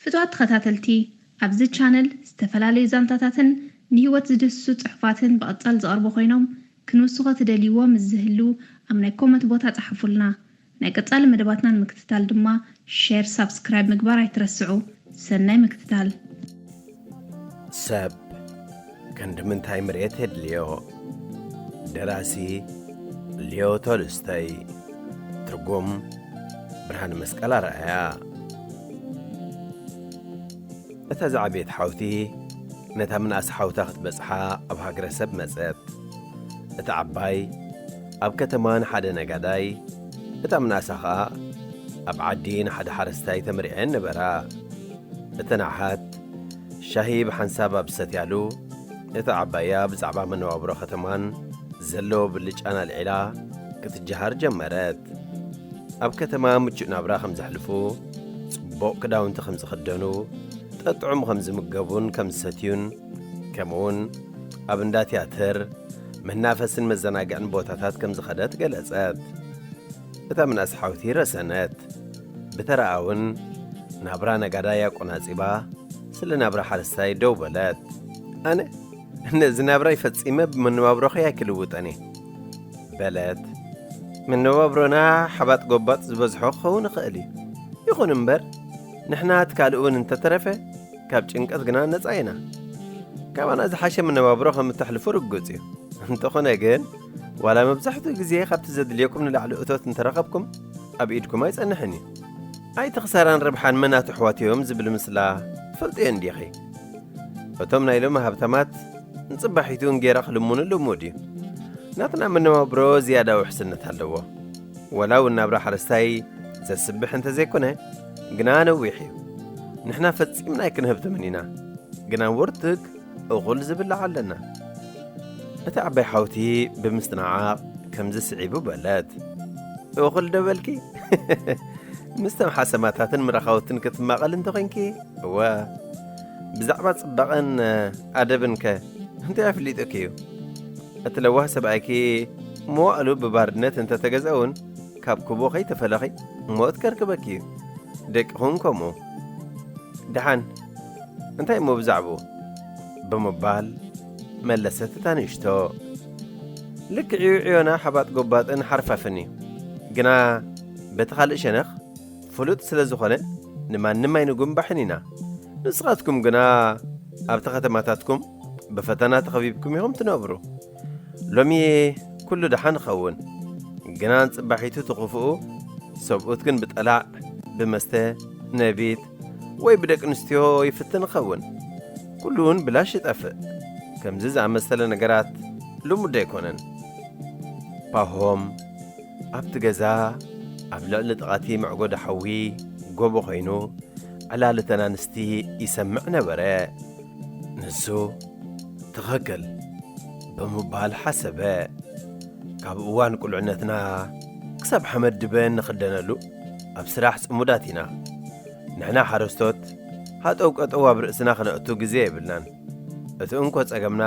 ፍትዋት ተኸታተልቲ ኣብዚ ቻነል ዝተፈላለዩ ዛንታታትን ንህይወት ዝድህስሱ ጽሑፋትን ብቐጻሊ ዝቐርቡ ኮይኖም ክንውስኾ ትደልይዎ ምስ ዝህሉ ኣብ ናይ ኮመት ቦታ ጸሓፉልና ናይ ቀጻሊ መደባትና ንምክትታል ድማ ሼር ሳብስክራይብ ምግባር ኣይትረስዑ ሰናይ ምክትታል። ሰብ ክንዲ ምንታይ ምሬት የድልዮ? ደራሲ ሊዮ ቶልስቶይ፣ ትርጉም ብርሃነመስቀል ኣርኣያ። እታ ዝዓበየት ሓውቲ ነታ ምንኣስ ሓውታ ክትበጽሓ ኣብ ሃገረሰብ መጸት። እታ ዓባይ ኣብ ከተማ ንሓደ ነጋዳይ፣ እታ ምንኣሳ ኸኣ ኣብ ዓዲ ንሓደ ሓረስታይ ተመሪዐን ነበራ። እተን ኣሓት ሻሂ ብሓንሳብ ኣብ ዝሰትያሉ፣ እታ ዓባያ ብዛዕባ መነባብሮ ኸተማን ዘለዎ ብልጫን ኣልዒላ ክትጀሃር ጀመረት። ኣብ ከተማ ምቹእ ናብራ ኸም ዘሕልፉ፣ ጽቡቕ ክዳውንቲ ኸም ዝኽደኑ፣ ጠጥዑም ኸም ዝምገቡን ከም ዝሰትዩን፣ ከምኡውን ኣብ እንዳ ትያትር፣ መናፈስን መዘናግዕን ቦታታት ከም ዝኸደት ገለጸት። እታ ምናስ ሓውቲ ረሰነት ብተራኣውን ናብራ ነጋዳይ ኣቆናጺባ ስለ ናብራ ሓረስታይ ደው በለት ኣነ ነዚ ናብራይ ፈጺመ ብመነባብሮኺ ኣይክልውጠን እየ በለት መነባብሮና ሓባጥ ጎባጥ ዝበዝሖ ክኸውን ይኽእል እዩ ይኹን እምበር ንሕና እቲ ካልእ እውን እንተተረፈ ካብ ጭንቀት ግና ነጻ ኢና ካባና ዝሓሸ መነባብሮ ከም እተሕልፉ ርግጽ እዩ እንተኾነ ግን ዋላ መብዛሕትኡ ግዜ ካብቲ ዘድልየኩም ንላዕሊ እቶት እንተረኸብኩም ኣብ ኢድኩም ኣይጸንሕን እዩ ኣይቲ ክሳራን ረብሓን መናት ኣሕዋት እዮም ዝብል ምስላ ትፈልጡ እየን ዲኺ እቶም ናይ ሎሚ ሃብታማት ንጽባሒቱ እንጌራ ክልምኑ ልሙድ እዩ ናትና መነባብሮ ዝያዳ ውሕስነት ኣለዎ ወላ እውን ናብራ ሓረስታይ ዘስብሕ እንተ ዘይኮነ ግና ነዊሕ እዩ ንሕና ፈጺምና ኣይክንህብትምን ኢና ግና ውርትግ እኹል ዝብላዕ ኣለና። እታ ዓባይ ሓውቲ ብምስትንዓቕ ከምዚ ስዒቡ በለት። እኹል ዶ በልኪ? ምስተም ሓሰማታትን ምራኻውትን ክትማቐል እንተ ኾይንኪ እወ። ብዛዕባ ጽባቐን ኣደብን ከ እንታይ ኣፍሊጡኪ እዩ? እቲ ለዋህ ሰብኣይኪ መዋእሉ ብባርነት እንተ ተገዝአ እውን ካብ ክቦ ከይተፈለኺ ሞት ከርክበኪ እዩ። ደቅኹም ከምኡ። ደሓን እንታይ እሞ ብዛዕብኡ? ብምባል መለሰት እታ ንእሽቶ። ልክዕ'ዩ ዕዮና ሓባጥ ጎባጥን ሓርፋፍን'ዩ። ግና በቲ ካልእ ሸነኽ ፍሉጥ ስለ ዝኾነ ንማንም ኣይንጉምባሕን ኢና። ንስኻትኩም ግና ኣብቲ ከተማታትኩም ብፈተና ተኸቢብኩም ኢኹም ትነብሩ። ሎሚዬ ኩሉ ደሓን እኸውን ግና ጽባሒቱ ትኽፍኡ ሰብኡት ግን ብጠላዕ ብመስተ ነቢት ወይ ብደቂ ኣንስትዮ ይፍትን እኸውን ኩሉውን ብላሽ ይጠፍእ ከምዚ ዝኣመሰለ ነገራት ልሙድ ኣይኮነን ፓሆም ኣብቲ ገዛ ኣብ ልዕሊ ጥቓቲ መዕጎዲ ሓዊ ጎቦ ኮይኑ ዕላል እተን ኣንስቲ ይሰምዕ ነበረ ንሱ ትኸክል ብምባል ሓሰበ ካብ እዋን ቁልዕነትና ክሳብ ሓመድ ድበ እንኽደነሉ ኣብ ስራሕ ጽሙዳት ኢና ንሕና ሓረስቶት ሃጠው ቀጠው ኣብ ርእስና ክነእቱ ግዜ የብልናን እቲ እንኮ ጸገምና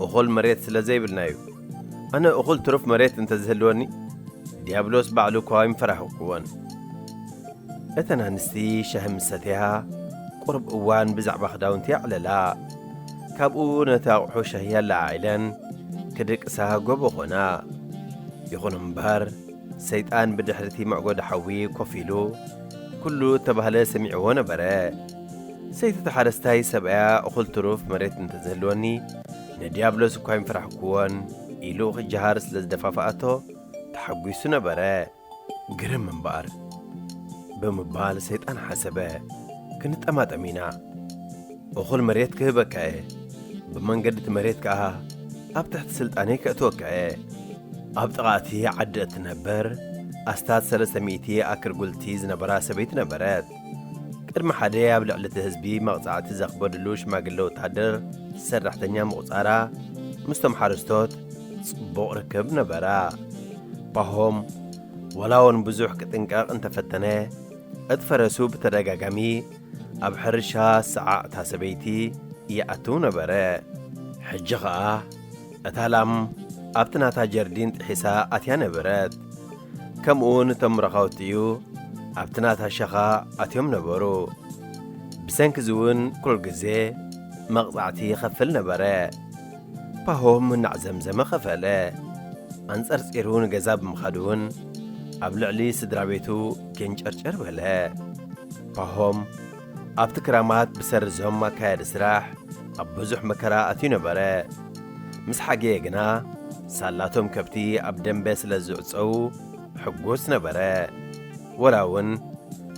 እኹል መሬት ስለ ዘይብልና እዩ ኣነ እኹል ትሩፍ መሬት እንተዝህልወኒ ዲያብሎስ ባዕሉ እኳ ኣይምፈራሕኩዎን እተን ኣንስቲ ሻሂ ምስ ሰተያ፣ ቁሩብ እዋን ብዛዕባ ክዳውንቲ የዕለላ። ካብኡ ነቲ ኣቝሑ ሻሂ ኣለዓዒለን ክድቅሳ ጎቦ ዀና። ይኹን እምበር፣ ሰይጣን ብድሕሪ እቲ መዕጐዲ ሓዊ ኮፍ ኢሉ ኵሉ እተባህለ ሰሚዕዎ ነበረ። ሰይቲ እቲ ሓረስታይ ሰብኣያ እኹል ትሩፍ መሬት እንተ ዝህልወኒ፣ ንድያብሎስ እኳ ኣይምፈራሕክዎን ኢሉ ኺጀሃር ስለ ዝደፋፍኣቶ ተሓጒሱ ነበረ። ግርም እምበኣር! ብምባል ሰይጣን ሓሰበ። ክንጠማጠም ኢና። እኹል መሬት ክህበካ እየ። ብመንገዲ እቲ መሬት ከኣ ኣብ ትሕቲ ስልጣነይ ከእትወካ እየ። ኣብ ጥቓ እቲ ዓዲ እትነበር ኣስታት ሰለስተ ሚእቲ ኣክል ጉልቲ ዝነበራ ሰበይቲ ነበረት። ቅድሚ ሓደ ኣብ ልዕሊ እቲ ህዝቢ መቕጻዕቲ ዘኽበድሉ ሽማግለ ወታደር ሰራሕተኛ ምቝጻራ ምስቶም ሓረስቶት ጽቡቕ ርክብ ነበራ። ፓሆም ወላ እውን ብዙሕ ክጥንቀቕ እንተፈተነ እቲ ፈረሱ ብተደጋጋሚ ኣብ ሕርሻ ሰዓዕ እታ ሰበይቲ ይኣትው ነበረ። ሕጂ ኸኣ እታ ላም ኣብቲ ናታ ጀርዲን ጥሒሳ ኣትያ ነበረት። ከምኡውን እቶም ረኸውቲኡ ኣብቲ ናታ ሸኻ ኣትዮም ነበሩ። ብሰንኪዚውን ኩሉ ግዜ መቕጻዕቲ ይኸፍል ነበረ። ፓሆም እናዕዘምዘመ ኸፈለ። ኣንጸርጺሩ ንገዛ ብምኻድውን ኣብ ልዕሊ ስድራ ቤቱ ጌንጨርጨር በለ። ፓሆም። ኣብቲ ክራማት ብሰሪ ዝሆም ኣካያዲ ስራሕ ኣብ ብዙሕ መከራ ኣትዩ ነበረ። ምስ ሓገየ ግና ሳላቶም ከብቲ ኣብ ደምበ ስለ ዝዕጸዉ ሕጉስ ነበረ። ወላ እውን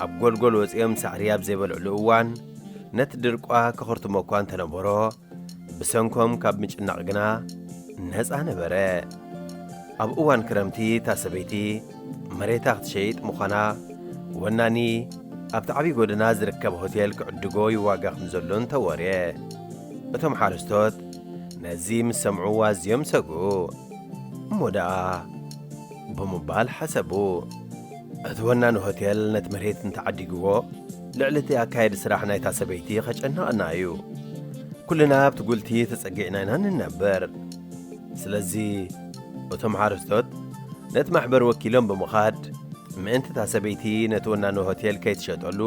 ኣብ ጎልጎል ወጺኦም ሳዕሪ ኣብ ዘይበልዕሉ እዋን ነቲ ድርቋ ከኹርትሞ እኳ እንተነበሮ፣ ብሰንኮም ካብ ምጭናቕ ግና ነጻ ነበረ። ኣብ እዋን ክረምቲ እታ ሰበይቲ መሬታ ክትሸይጥ ምዃና ወናኒ ኣብቲ ዓብዪ ጎደና ዝርከብ ሆቴል ክዕድጎ ይዋጋ ከም ዘሎን ተወርየ። እቶም ሓረስቶት ነዚ ምስ ሰምዑ ኣዝዮም ሰግኡ። እሞ ደኣ ብምባል ሓሰቡ። እቲ ወናኒ ሆቴል ነቲ መሬት እንተ ዓዲግዎ፣ ልዕሊ እቲ ኣካያዲ ስራሕ ናይታ ሰበይቲ ኼጨንቐና እዩ። ኵልና ኣብቲ ጕልቲ ተጸጊዕና ኢና እንነብር። ስለዚ፣ እቶም ሓረስቶት ነቲ ማሕበር ወኪሎም ብምኻድ፣ ምእንቲ እታ ሰበይቲ ነቲ ወናኒ ሆቴል ከይትሸጠሉ፣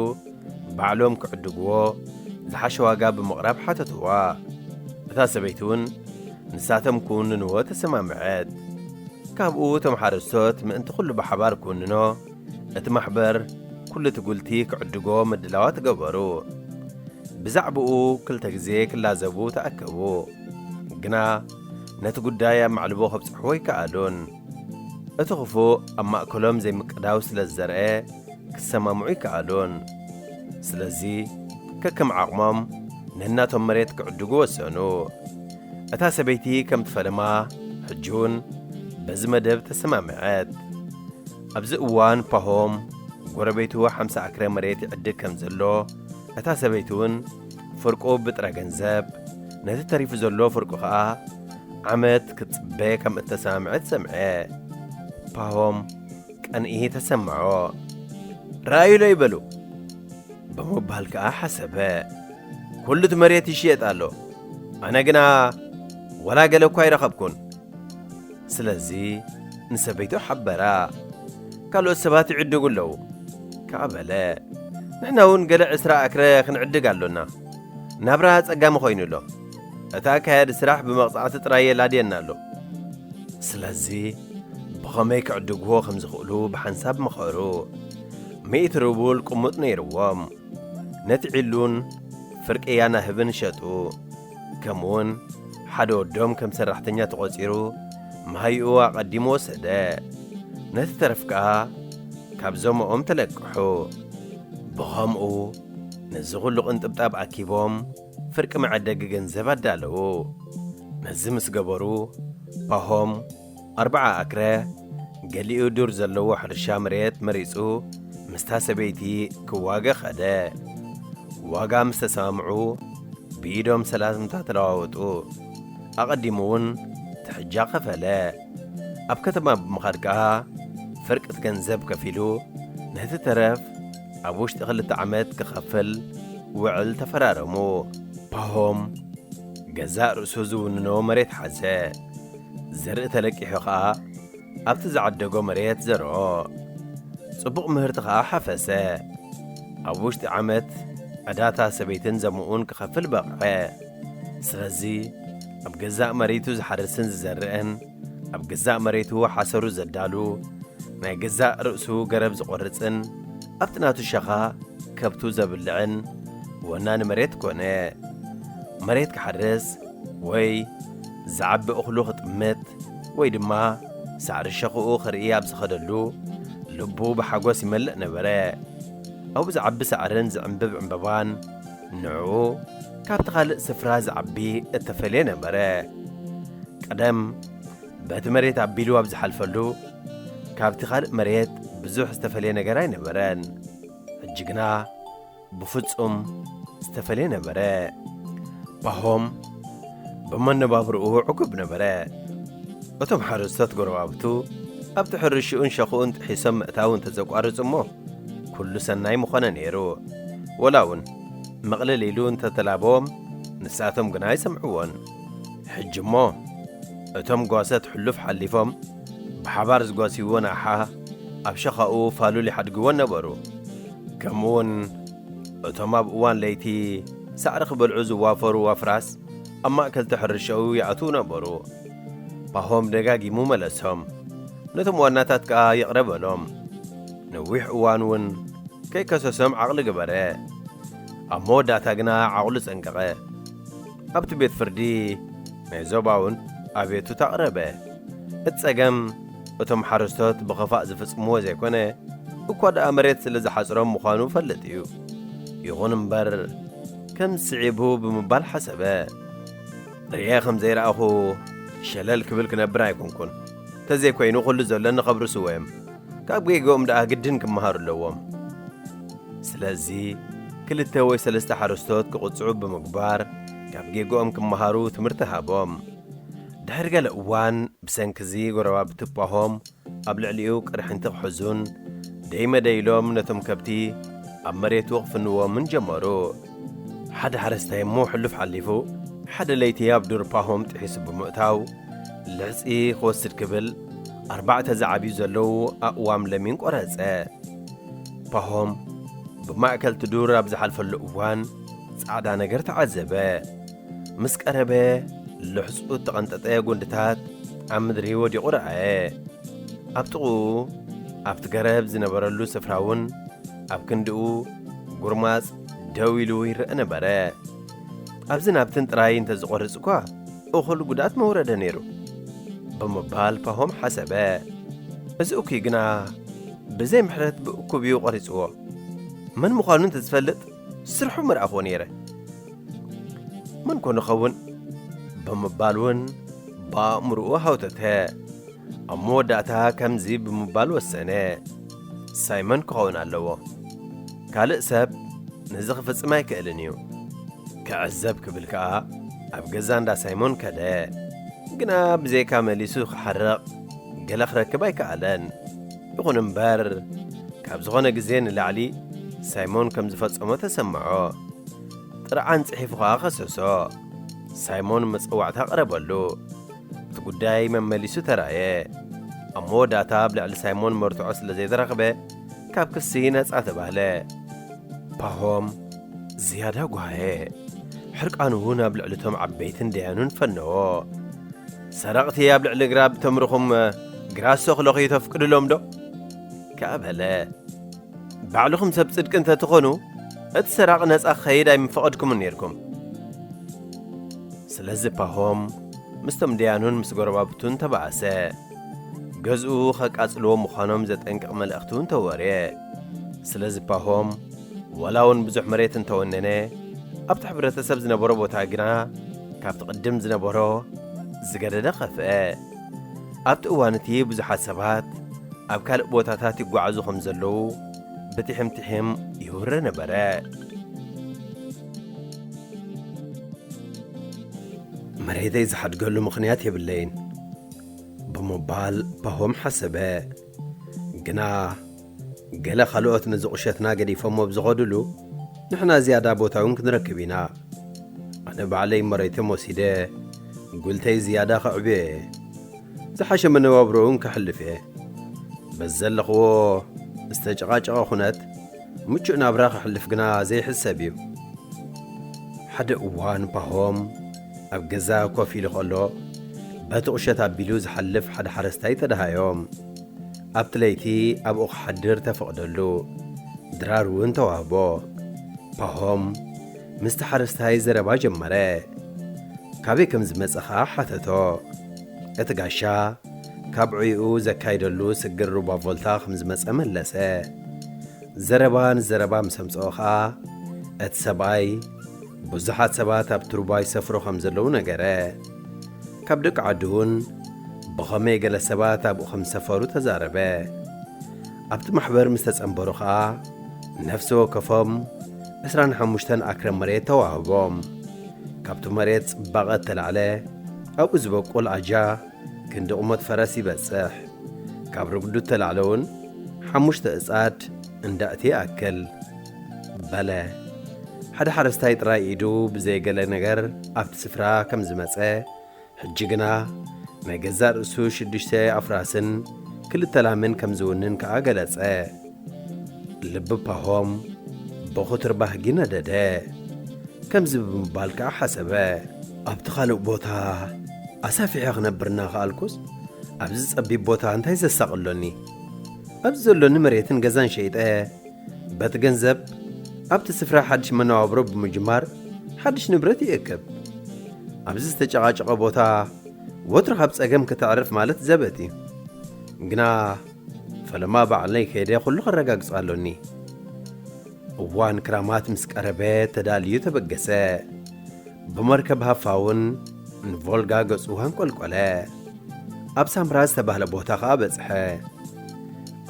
ባዕሎም ኪዕድግዎ ዝሓሸ ዋጋ ብምቕራብ ሓተትዋ። እታ ሰበይቲ እውን፣ ንሳቶም ክውንንዎ ተሰማምዐት። ካብኡ እቶም ሓረስቶት ምእንቲ ኩሉ ብሓባር ክውንኖ እቲ ማሕበር ኩሉ እቲ ጉልቲ ክዕድጎ ምድላዋት ገበሩ። ብዛዕብኡ ክልተ ግዜ ክላዘቡ ተኣከቡ። ግና ነቲ ጉዳይ ኣብ ማዕልቦ ከብጽሕዎ ኣይከኣሉን። እቲ ኽፉእ ኣብ ማእከሎም ዘይምቅዳው ስለ ዝዘርኣ፣ ክሰማምዑ ኣይከኣሉን። ስለዚ፣ ከከም ዓቕሞም ነናቶም መሬት ክዕድጉ ወሰኑ። እታ ሰበይቲ ከም ትፈለማ ሕጂውን በዚ መደብ ተሰማምዐት። ኣብዚ እዋን ፓሆም ጐረቤቱ ሓምሳ ኣክረ መሬት ይዕድግ ከም ዘሎ፣ እታ ሰበይቲውን፣ ፍርቁ ብጥረ ገንዘብ፣ ነቲ ተሪፉ ዘሎ ፍርቁ ኸኣ ዓመት ክትጽበ ከም እተሰማምዐት ሰምዐ። ፓሆም ቀንኢ ተሰማዖ። ርኣዩለይ በሉ ብምባል ከኣ ሓሰበ። ኩሉቲ መሬት ይሽየጥ ኣሎ፣ ኣነ ግና ዋላ ገለ እኳ ኣይረኸብኩን። ስለዚ ንሰበይቱ ሓበራ። ካልኦት ሰባት ይዕድጉ ኣለዉ ከኣ በለ። ንሕና እውን ገለ ዕስራ ኣክረ ክንዕድግ ኣሎና። ናብራ ኣጸጋሚ ዀይኑ ኣሎ። እቲ ኣካያዲ ስራሕ ብመቕጻዕቲ ጥራይ የላድየና ኣሎ። ስለዚ ብኸመይ ክዕድግዎ ከም ዝኽእሉ ብሓንሳብ መኸሩ። ሚእቲ ሩቡል ቅሙጥ ነይርዎም። ነቲ ዒሉን ፍርቂ ያናህብን ሸጡ። ከምኡውን ሓደ ወዶም ከም ሰራሕተኛ ተቖጺሩ መሃይኡ ኣቐዲሙ ወሰደ። ነቲ ተረፍ ከኣ ካብ ዞምኦም ተለቅሑ። ብኸምኡ ነዚ ዅሉ ቕንጥብጣብ ኣኪቦም ፍርቂ መዐደጊ ገንዘብ ኣዳለዉ። ነዚ ምስ ገበሩ ፓሆም ኣርብዓ ኣክረ ገሊኡ ዱር ዘለዎ ሕርሻ መሬት መሪጹ ምስታ ሰበይቲ ክዋገ ኸደ። ዋጋ ምስ ተሰማምዑ ብኢዶም ሰላምታ ተለዋወጡ። ኣቐዲሙ ውን ትሕጃ ከፈለ። ኣብ ከተማ ብምኻድ ከኣ ፍርቂት ገንዘብ ከፊሉ ነቲ ተረፍ ኣብ ውሽጢ ክልተ ዓመት ክኸፍል ውዕል ተፈራረሙ። ፓሆም ገዛእ ርእሱ ዝውንኖ መሬት ሓዘ። ዘርኢ ተለቂሑ ኸኣ ኣብቲ ዝዓደጎ መሬት ዘርኦ። ጽቡቕ ምህርቲ ኸኣ ሓፈሰ። ኣብ ውሽጢ ዓመት ዕዳታ ሰበይትን ዘምኡን ክኸፍል በቕዐ። ስለዚ ኣብ ገዛእ መሬቱ ዝሓርስን ዝዘርእን፣ ኣብ ገዛእ መሬቱ ሓሰሩ ዘዳሉ፣ ናይ ገዛእ ርእሱ ገረብ ዝቖርጽን ኣብቲ ናቱ ሸኻ ከብቱ ዘብልዕን ወናኒ መሬት ኮነ። መሬት ክሓርስ ወይ። ዝዓቢ እኽሉ ክጥምት ወይ ድማ ሳዕሪ ሸኽኡ ክርኢ ኣብ ዝኸደሉ፣ ልቡ ብሓጐስ ይመልእ ነበረ። ኣብኡ ዝዓቢ ሳዕርን ዝዕምብብ ዕምባባን ንዕኡ ካብቲ ኻልእ ስፍራ ዝዓቢ እተፈልየ ነበረ። ቀደም በቲ መሬት ኣቢሉ ኣብ ዝሓልፈሉ፣ ካብቲ ኻልእ መሬት ብዙሕ ዝተፈልየ ነገር ኣይነበረን። ሕጂ ግና፣ ብፍጹም ዝተፈልየ ነበረ። ፓሆም ብመነባብርኡ ዕጉብ ነበረ። እቶም ሓረስቶት ጎረባብቱ ኣብቲ ሕርሽኡን ሸኽኡን ጥሒሶም ምእታው እንተ ዘቋርጹ እሞ ኩሉ ሰናይ ምኾነ ነይሩ። ወላ እውን ምቕልል ኢሉ እንተ ተላበዎም ንሳቶም ግና ኣይሰምዕዎን። ሕጂ እሞ እቶም ጓሶት ሕሉፍ ሓሊፎም ብሓባር ዝጓስይዎን ኣሓ ኣብ ሸኻኡ ፋሉል ይሓድግዎን ነበሩ። ከምኡውን እቶም ኣብ እዋን ለይቲ ሳዕሪ ክበልዑ ዝዋፈሩ ኣፍራስ ኣብ ማእከልቲ ሕርሻኡ ይኣትዉ ነበሩ። ፓሆም ደጋጊሙ መለሶም። ነቶም ዋናታት ከኣ ይቕረ በሎም። ነዊሕ እዋን እውን ከይከሰሶም ዓቕሊ ገበረ። ኣብ መወዳእታ ግና ዓቕሉ ጸንቀቐ። ኣብቲ ቤት ፍርዲ ናይ ዞባውን ኣቤቱታ ኣቕረበ። እቲ ጸገም እቶም ሓረስቶት ብኸፋእ ዝፍጽምዎ ዘይኮነ እኳ ደኣ መሬት ስለ ዝሓጽሮም ምዃኑ እፈልጥ እዩ። ይኹን እምበር ከም ስዒቡ ብምባል ሓሰበ። ርእየ ከም ዘይረኣኹ ሸለል ክብል ክነብር ኣይኮንኩን። ተዘይኮይኑ ኩሉ ዘለኒ ከብርሱዎ እዮም። ካብ ጌግኦም ደኣ ግድን ክመሃሩ ኣለዎም። ስለዚ ክልተ ወይ ሰለስተ ሓረስቶት ክቕጽዑ ብምግባር ካብ ጌግኦም ክመሃሩ ትምህርቲ ሃቦም። ድሕሪ ገለ እዋን ብሰንኪ'ዚ ጎረባብቲ ፓሆም ኣብ ልዕሊኡ ቅርሕንቲ ክሕዙን ደይ መደይ ኢሎም ነቶም ከብቲ ኣብ መሬቱ ክፍንዎምን ጀመሩ። ሓደ ሓረስታይ እሞ ሕሉፍ ሓሊፉ ሓደ ለይቲ ኣብ ዱር ፓሆም ጥሒሱ ብምእታው ልሕጺ ክወስድ ክብል ኣርባዕተ ዝዓብዩ ዘለዉ ኣእዋም ለሚን ቆረጸ። ፓሆም ብማእከልቲ ዱር ኣብ ዝሓልፈሉ እዋን ጻዕዳ ነገር ተዓዘበ። ምስ ቀረበ ልሕጹ እተቐንጠጠ ጕንድታት ኣብ ምድሪ ወዲቑ ረኣየ። ኣብ ጥቕኡ ኣብቲ ገረብ ዝነበረሉ ስፍራ እውን ኣብ ክንድኡ ጉርማጽ ደው ኢሉ ይረእ ነበረ። ኣብዝን ናብትን ጥራይ እንተ ዝቖርጽ እኳ እኹል ጉድኣት መውረደ ነይሩ ብምባል ፓሆም ሓሰበ። እዚ እኩይ ግና ብዘይ ምሕረት ብእኩብ እዩ ቖሪጽዎ። መን ምዃኑ እንተ ዝፈልጥ ስርሑ ምርኣኹዎ ነይረ። መን ኮን ይኸውን ብምባል እውን ብኣእምርኡ ሃውተተ። ኣብ መወዳእታ ከምዚ ብምባል ወሰነ፣ ሳይመን ክኸውን ኣለዎ። ካልእ ሰብ ነዚ ክፍጽም ኣይክእልን እዩ ክዕዘብ ክብል ከኣ ኣብ ገዛ እንዳ ሳይሞን ከደ ግና ብዘይካ መሊሱ ክሓርቕ ገለ ክረክብ ኣይከኣለን ይኹን እምበር ካብ ዝኾነ ግዜ ንላዕሊ ሳይሞን ከም ዝፈጸሞ ተሰምዖ ጥርዓን ጽሒፉ ኸኣ ኸሰሶ ሳይሞን መጸዋዕታ ቐረበሉ እቲ ጉዳይ መመሊሱ ተራእየ ኣብ መወዳእታ ኣብ ልዕሊ ሳይሞን መርትዖ ስለ ዘይተረኽበ ካብ ክሲ ነጻ ተባህለ። ፓሆም ዝያዳ ጓሃየ። ሕርቃኑ ናብ ልዕሊ እቶም ዓበይትን ደያኑን ፈነዎ። ሰረቕቲ ኣብ ልዕሊ ግራብ ተምርኹም ግራሶ ክለኽዩ ተፍቅድሎምዶ? ከኣ በለ። ባዕልኹም ሰብ ጽድቂ እንተ ትኾኑ እቲ ሰራቒ ነጻ ክኸይድ ኣይምፈቐድኩምን ኔርኩም። ስለዚ ፓሆም ምስቶም ደያኑን ምስ ጎረባብቱን ተባእሰ። ገዝኡ ከቃጽልዎ ምዃኖም ዘጠንቅቕ መልእኽቲ እውን ተወርየ። ስለዚ ፓሆም ዋላ እውን ብዙሕ መሬት እንተወነነ፣ ኣብቲ ሕብረተሰብ ዝነበሮ ቦታ ግና ካብቲ ቅድም ዝነበሮ ዝገደደ ኸፍአ። ኣብቲ እዋን እቲ ብዙሓት ሰባት ኣብ ካልእ ቦታታት ይጓዓዙ ከም ዘለዉ ብትሒም ትሒም ይውረ ነበረ። መሬተይ ዝሓድገሉ ምኽንያት የብለይን። ብምባል ፓሆም ሓሰበ። ግና ገለ ካልኦት ነዚ ቁሸትና ገዲፎሞ ኣብ ዝኸዱሉ፣ ንሕና ዝያዳ ቦታ እውን ክንረክብ ኢና። ኣነ ባዕለይ መሬቶም ወሲደ ጉልተይ ዝያዳ ከዕብዮ እየ። ዝሓሸ መነባብሮ እውን ከሕልፍ እየ። በዚ ዘለኽዎ ዝተጨቓጨቐ ኩነት ምቹእ ናብራ ከሕልፍ ግና ዘይሕሰብ እዩ። ሓደ እዋን ፓሆም፣ ኣብ ገዛ ኮፍ ኢሉ ከሎ በቲ ቁሸት ኣቢሉ ዝሓልፍ ሓደ ሓረስታይ ተደሃዮም። ኣብቲ ለይቲ ኣብኡ ክሓድር ተፈቕደሉ። ድራር እውን ተዋህቦ። ፓሆም ምስቲ ሓረስታይ ዘረባ ጀመረ። ካበይ ከም ዝመጸ ኸኣ ሓተቶ። እቲ ጋሻ ካብ ዕዩኡ ዘካይደሉ ስግር ሩባ ቮልታ ከም ዝመጸ መለሰ። ዘረባ ንዘረባ ምስ ኣምጽኦ ኸኣ እቲ ሰብኣይ፣ ብዙሓት ሰባት ኣብቲ ሩባ ይሰፍሩ ኸም ዘለዉ ነገረ። ካብ ደቂ ዓዱ እውን ብኸመይ ገለ ሰባት ኣብኡ ኸም ዝሰፈሩ ተዛረበ። ኣብቲ ማሕበር ምስ ተጸንበሩ ኸኣ ነፍሲ ወከፎም ዕስራን ሓሙሽተን ኣክረ መሬት ተዋህቦም። ካብቲ መሬት ጽባቐ እተላዕለ ኣብኡ ዝበቁል ኣጃ ክንዲ ቁመት ፈረስ ይበጽሕ። ካብ ርጉዱ እተላዕለ እውን ሓሙሽተ እጻድ እንዳ እቲ ይኣክል። በለ። ሓደ ሓረስታይ ጥራይ ኢዱ ብዘይ ገለ ነገር ኣብቲ ስፍራ ከም ዝመጸ፣ ሕጂ ግና ናይ ገዛእ ርእሱ ሽዱሽተ ኣፍራስን ክልተ ላምን ከም ዝውንን ከኣ ገለጸ። ልቢ ፓሆም ብኹትር ባህጊ ነደደ። ከምዚ ብምባል ከኣ ሓሰበ። ኣብቲ ካልእ ቦታ ኣሳፊሐ ክነብር እናኸኣልኩስ፣ ኣብዚ ጸቢብ ቦታ እንታይ ዘሳቕ ኣሎኒ? ኣብዚ ዘሎኒ መሬትን ገዛን ሸይጠ፣ በቲ ገንዘብ ኣብቲ ስፍራ ሓድሽ መነባብሮ ብምጅማር ሓድሽ ንብረት ይእክብ። ኣብዚ ዝተጨቓጨቐ ቦታ ወትሩ ካብ ጸገም ከተዕርፍ ማለት ዘበት እዩ። ግና ፈለማ ባዕለይ ከይደ ኩሉ ከረጋግጾ ኣሎኒ። እዋን ክራማት ምስ ቀረበ ተዳልዩ ተበገሰ። ብመርከብ ሃፋውን ንቮልጋ ገጹ ኣንቈልቈለ። ኣብ ሳምራ ዝተባህለ ቦታ ኸኣ በጽሐ።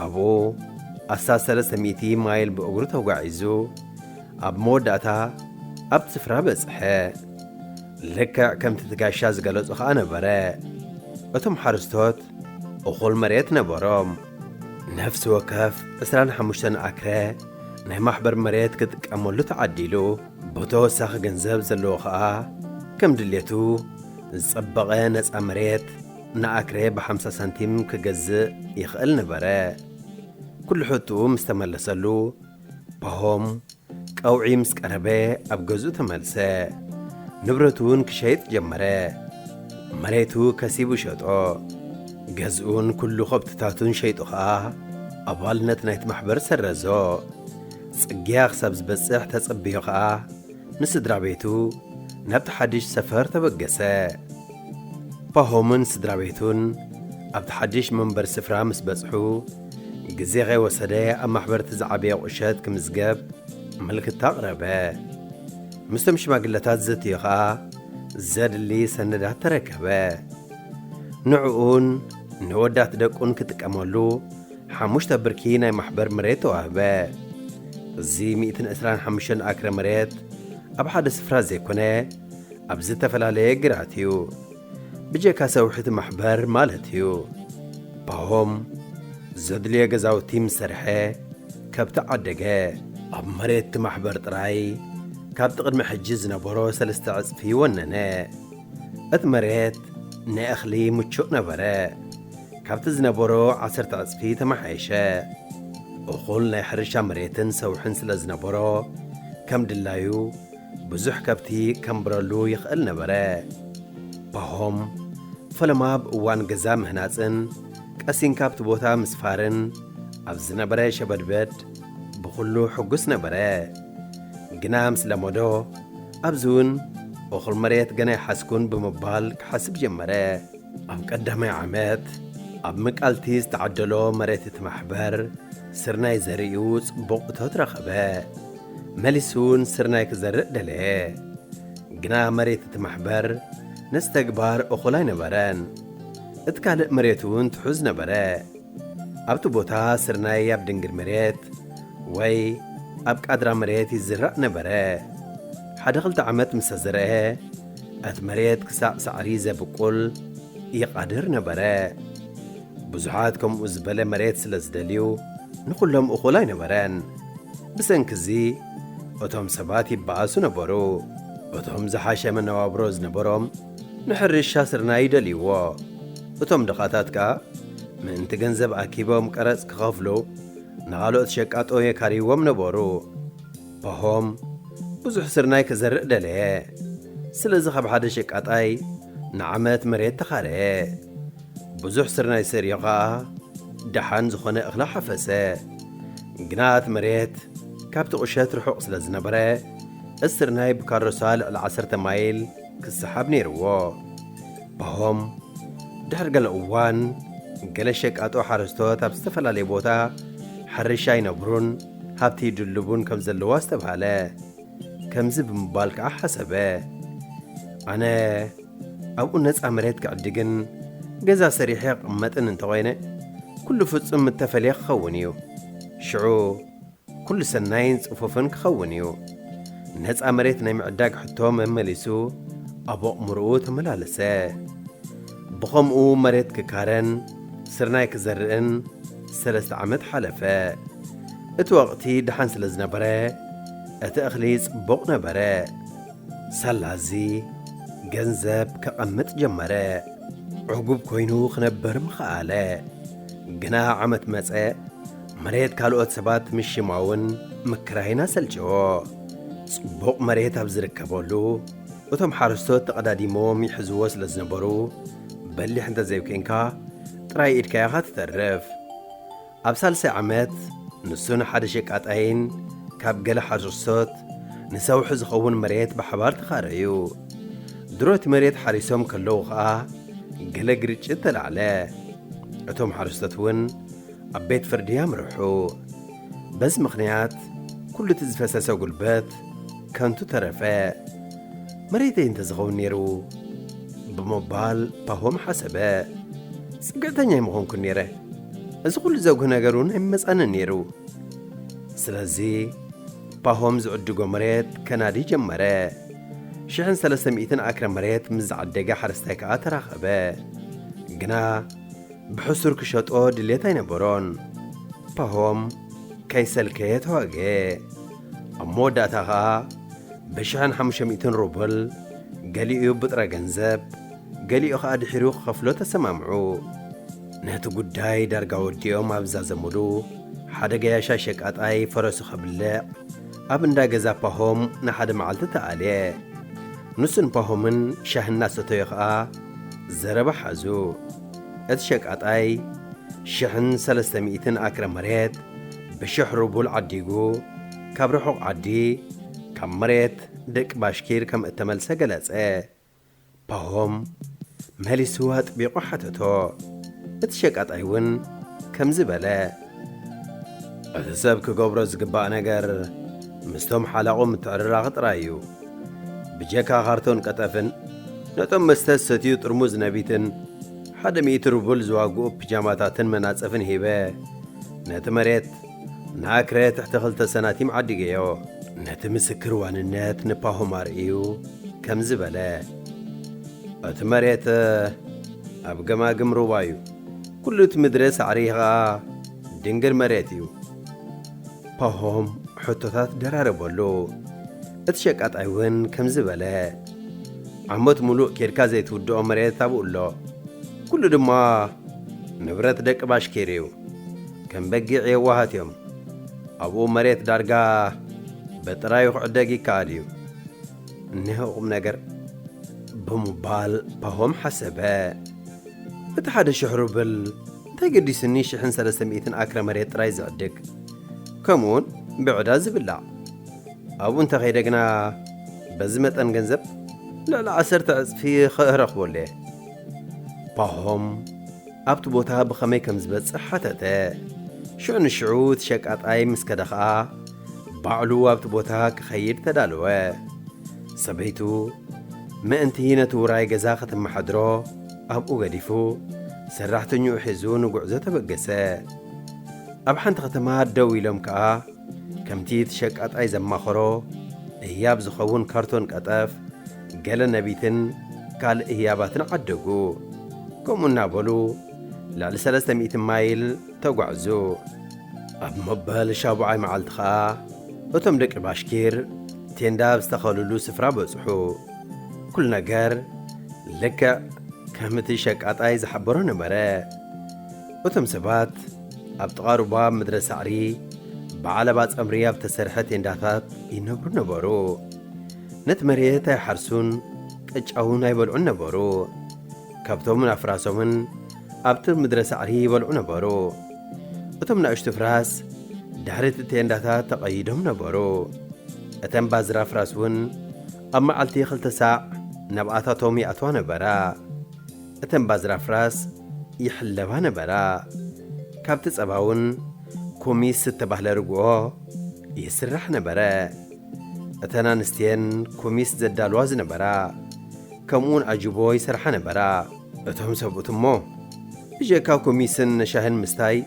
ኣብኡ ኣስታት ሰለስተ ሚእቲ ማይል ብእግሩ ተጓዒዙ ኣብ መወዳእታ ኣብቲ ስፍራ በጽሐ። ልክዕ ከምቲ እቲ ጋሻ ዝገለጾ ኸኣ ነበረ። እቶም ሓረስቶት እኹል መሬት ነበሮም። ነፍሲ ወከፍ ዕስራን ሓሙሽተን ኣክረ ናይ ማሕበር መሬት ክጥቀመሉ ተዓዲሉ፣ ብተወሳኺ ገንዘብ ዘለዎ ኸኣ ከም ድሌቱ ዝጸበቐ ነጻ መሬት፣ ንኣክሬ ብሓምሳ ሳንቲም ክገዝእ ይኽእል ነበረ። ኩሉ ሕትኡ ምስ ተመለሰሉ፣ ፓሆም ቀውዒ ምስ ቀረበ ኣብ ገዝኡ ተመልሰ። ንብረቱ'ውን ክሸይጥ ጀመረ። መሬቱ ከሲቡ ሸጦ። ገዝኡን ኩሉ ከብትታቱን ሸይጡ ከኣ ኣባልነት ናይቲ ማሕበር ሰረዞ። ጽግያ ክሳብ ዝበጽሕ ተጸብዮ ከኣ ንስድራ ቤቱ ናብቲ ሓድሽ ሰፈር ተበገሰ። ፓሆምን ስድራቤቱን ኣብቲ ሓድሽ መንበሪ ስፍራ ምስ በጽሑ፣ ግዜ ከይወሰደ ኣብ ማሕበር'ቲ ዝዓበየ ቁሸት ክምዝገብ ምልክታ ኣቕረበ። ምስቶም ሽማግለታት ዘትዩ ከኣ ዘድሊ ሰነዳት ተረከበ። ንዕኡን ንወዳት ደቁን ክጥቀመሉ ሓሙሽተ ብርኪ ናይ ማሕበር መሬት ተዋህበ። እዚ ሚእትን ዕስራን ሓሙሽተን ኣክረ መሬት ኣብ ሓደ ስፍራ ዘይኮነ፣ ኣብ ዝተፈላለየ ግራት እዩ ብጀካ ሰውሒቲ ማሕበር ማለት እዩ ፓሆም ዘድልዮ ገዛውቲ ምስ ሰርሐ ከብቲ ዓደገ ኣብ መሬትቲ ማሕበር ጥራይ ካብቲ ቅድሚ ሕጂ ዝነበሮ ሰለስተ ዕጽፊ ወነነ እቲ መሬት ንእኽሊ ምቹእ ነበረ ካብቲ ዝነበሮ ዓሰርተ ዕጽፊ ተመሓየሸ እኹል ናይ ሕርሻ መሬትን ሰውሕን ስለ ዝነበሮ ከም ድላዩ ብዙሕ ከብቲ ከንብረሉ ይኽእል ነበረ። ፓሆም፣ ፈለማ ኣብ እዋን ገዛ ምህናጽን ቀሲንካ ኣብቲ ቦታ ምስፋርን ኣብ ዝነበረ ሸበድበድ ብኹሉ ሕጉስ ነበረ። ግና ምስ ለመዶ፣ ኣብዚ እውን እኹል መሬት ገና ኣይሓዝኩን ብምባል ክሓስብ ጀመረ። ኣብ ቀዳማይ ዓመት፣ ኣብ ምቃልቲ ዝተዓደሎ መሬት እቲ ማሕበር ስርናይ ዘሪኡ ጽቡቕ እቶት ረኸበ። መሊሱውን ስርናይ ክዘርእ ደለየ። ግና መሬት እቲ ማሕበር ነዚ ተግባር እኹል ኣይነበረን። እቲ ካልእ መሬትውን ትሑዝ ነበረ። ኣብቲ ቦታ ስርናይ ኣብ ድንግል መሬት ወይ ኣብ ቃድራ መሬት ይዝራእ ነበረ። ሓደ ክልተ ዓመት ምሰ ዘርአ እቲ መሬት ክሳዕ ሳዕሪ ዘብቁል ይቓድር ነበረ። ብዙሓት ከምኡ ዝበለ መሬት ስለ ዝደልዩ ንኹሎም እኹል ኣይነበረን። ብሰንኪ እዚ እቶም ሰባት ይበኣሱ ነበሩ። እቶም ዝሓሸ መነባብሮ ዝነበሮም ንሕርሻ ስርናይ ይደልይዎ፣ እቶም ድኻታት ከኣ ምእንቲ ገንዘብ ኣኪቦም ቀረጽ ክኸፍሉ ንኻልኦት ሸቃጦ የካርይዎም ነበሩ። ፓሆም ብዙሕ ስርናይ ክዘርእ ደለየ፣ ስለዚ ካብ ሓደ ሸቃጣይ ንዓመት መሬት ተኻረየ። ብዙሕ ስርናይ ሰሪሑ ኸኣ ደሓን ዝዀነ እኽሊ ሓፈሰ። ግና እቲ መሬት ካብቲ ቁሸት ርሑቕ ስለ ዝነበረ፣ እስርናይ ብካሮሳ ልዕሊ ዓሰርተ ማይል ክሰሓብ ነይርዎ። ፓሆም ድሕሪ ገለ እዋን፣ ገለ ሸቃጦ ሓረስቶት ኣብ ዝተፈላለየ ቦታ ሕርሻ ይነብሩን ሃብቲ ይድልቡን ከም ዘለዉ ኣስተብሃለ። ከምዚ ብምባል ከኣ ሓሰበ፣ ኣነ፣ ኣብኡ ነፃ መሬት ክዕድግን ገዛ ሰሪሐ ክቕመጥን እንተኾይነ ኩሉ ፍፁም እተፈልየ ክኸውን እዩ። ሽዑ ኩሉ ሰናይን ፅፉፍን ክኸውን እዩ። ነፃ መሬት ናይ ምዕዳግ ሕቶ መመሊሱ ኣብ ኣእምሮኡ ተመላለሰ። ብኸምኡ መሬት ክካረን ስርናይ ክዘርእን ሰለስተ ዓመት ሓለፈ። እቲ ወቕቲ ደሓን ስለ ዝነበረ እቲ እኽሊ ፅቡቕ ነበረ። ሰላዚ ገንዘብ ከቐምጥ ጀመረ። ዕጉብ ኮይኑ ክነበር ምኸኣለ። ግና ዓመት መጸ፣ መሬት ካልኦት ሰባት ምሽማውን ምክራይን ኣሰልቸዎ። ጽቡቕ መሬት ኣብ ዝርከበሉ፣ እቶም ሓረስቶት ተቐዳዲሞም ይሕዝዎ ስለ ዝነበሩ፣ በሊሕ እንተ ዘይኴንካ ጥራይ ኢድካ ኢኻ ትተርፍ። ኣብ ሳልሳይ ዓመት ንሱን ሓደ ሸቃጣይን ካብ ገለ ሓርሶት ንሰውሒ ዝኸውን መሬት ብሓባር ተኻረዩ። ድሮ እቲ መሬት ሓሪሶም ከለዉ ኸኣ ገለ ግርጭት ተላዕለ። እቶም ሓረስቶት እውን ኣብ ቤት ፍርዲ ኣምርሑ። በዚ ምኽንያት ኩሉ እቲ ዝፈሰሰ ጉልበት ከንቱ ተረፈ። መሬተይ እንተ ዝኸውን ነይሩ ብምባል ፓሆም ሓሰበ። ጽግዕተኛ ኣይምኾንኩን ነይረ። እዚ ኹሉ ዘጉህ ነገር እውን ኣይመጸንን ነይሩ። ስለዚ ፓሆም ዝዕድጎ መሬት ከናዲ ጀመረ። ሽሕን ሰለስተ ሚእትን ኣክረ መሬት ምስ ዝዓደገ ሓረስታይ ከኣ ተራኸበ። ግና ብሕሱር ክሸጦ ድሌት ኣይነበሮን። ፓሆም ከይሰልከየ ተዋግኤ። ኣብ መወዳእታ ከኣ ብሽሕን ሓሙሽተ ሚእትን ሩብል ገሊኡ ብጥረ ገንዘብ ገሊኡ ከኣ ድሒሩ ክኸፍሎ ተሰማምዑ። ነቲ ጉዳይ ዳርጋ ወዲኦም ኣብ ዝዛዘሙሉ፣ ሓደ ገያሻ ሸቃጣይ ፈረሱ ከብልዕ ኣብ እንዳ ገዛ ፓሆም ንሓደ መዓልቲ ተኣልየ። ንሱን ፓሆምን ሻሂ እናሰተዩ ኸኣ ዘረባ ሓዙ። እቲ ሸቃጣይ ሽሕን ሰለስተ ሚእትን ኣክረ መሬት ብሽሕ ሩቡል ዓዲጉ ካብ ርሑቕ ዓዲ ካብ መሬት ደቂ ባሽኪር ከም እተመልሰ ገለጸ። ፓሆም መሊሱ ኣጥቢቑ ሓተቶ። እቲ ሸቃጣይ እውን ከምዚ በለ። እቲ ሰብ ክገብሮ ዝግባእ ነገር ምስቶም ሓላቑ ምትዕርራኽ ጥራይ እዩ። ብጀካ ካርቶን ቀጠፍን ነቶም መስተ ዝሰትዩ ጥርሙዝ ነቢትን ሓደ ሚእቲ ሩብል ዝዋግኡ ፒጃማታትን መናጽፍን ሂበ ነቲ መሬት ንኣክረ ትሕቲ ክልተ ሰናቲም ዓዲገዮ። ነቲ ምስክር ዋንነት ንፓሆም ኣርእዩ ከምዚ በለ፣ እቲ መሬት ኣብ ገማግም ሩባ እዩ። ኩሉ እቲ ምድረ ሳዕሪ ኸኣ ድንግር መሬት እዩ። ፓሆም ሕቶታት ደራረበሉ። እቲ ሸቃጣይ እውን ከምዚ በለ፣ ዓመት ምሉእ ኬድካ ዘይትውድኦ መሬት ኣብኡ ኣሎ። ኩሉ ድማ ንብረት ደቂ ባሽኪር እዩ። ከም በጊዕ የዋሃት እዮም ኣብኡ መሬት ዳርጋ በጥራዩ ክዕደግ ይከኣል እዩ እነሆ ቁምነገር ብምባል ፓሆም ሓሰበ እቲ ሓደ ሽሕ ሩብል እንታይ ገዲሱኒ ሽሕን ሰለስተ ሚእትን ኣክረ መሬት ጥራይ ዝዕድግ ከምኡውን ብዕዳ ዝብላዕ ኣብኡ እንተኸይደ ግና በዚ መጠን ገንዘብ ልዕሊ ዓሰርተ ዕፅፊ ኸእረኽበሉ እየ ፓሆም ኣብቲ ቦታ ብኸመይ ከም ዝበጽሕ ሓተተ። ሽዑ ንሽዑ እቲ ሸቃጣይ ምስ ከደ ኸኣ፣ ባዕሉ ኣብቲ ቦታ ክኸይድ ተዳለወ። ሰበይቱ ምእንቲ ነቲ ውራይ ገዛ ከተመሓድሮ ኣብኡ ገዲፉ፣ ሰራሕተኛኡ ሒዙ ንጕዕዞ ተበገሰ። ኣብ ሓንቲ ከተማ ደው ኢሎም ከኣ፣ ከምቲ እቲ ሸቃጣይ ዘማኸሮ፣ ህያብ ዝኸውን ካርቶን ቀጠፍ፣ ገለ ነቢትን ካልእ ህያባትን ዓደጉ። ከምኡ እናበሉ ልዕሊ ሰለስተ ሚእቲ ማይል ተጓዕዙ። ኣብ መበል ሻቡዓይ መዓልቲ ኸኣ እቶም ደቂ ባሽኪር ቴንዳ ኣብ ዝተኸሉሉ ስፍራ በጽሑ። ኩሉ ነገር ልክዕ ከም እቲ ሸቃጣይ ዝሓበሮ ነበረ። እቶም ሰባት ኣብ ጥቓ ሩባ ምድረ ሳዕሪ ብዓለባ ጸምሪ ኣብ እተሰርሐ ቴንዳታት ይነብሩ ነበሩ። ነቲ መሬት ኣይሓርሱን ቅጫውን ኣይበልዑን ነበሩ። ከብቶምን ኣፍራሶምን ኣብቲ ምድረ ሳዕሪ ይበልዑ ነበሩ። እቶም ናእሽቱ ፍራስ ድሕሪ እቲ ቴንዳታት ተቐይዶም ነበሩ። እተን ባዝራ ፍራስ እውን ኣብ መዓልቲ ክልተ ሳዕ ናብኣታቶም ይኣትዋ ነበራ። እተን ባዝራ ፍራስ ይሕለባ ነበራ። ካብቲ ጸባ እውን ኩሚስ ዝተባህለ ርግኦ ይስራሕ ነበረ። እተን ኣንስቲ'የን ኩሚስ ዘዳልዋ ዝነበራ፣ ከምኡ'ውን ኣጅቦ ይሰርሓ ነበራ። እቶም ሰብኡት እሞ ብጀካ ኩሚስን ሻሂን ምስታይ፣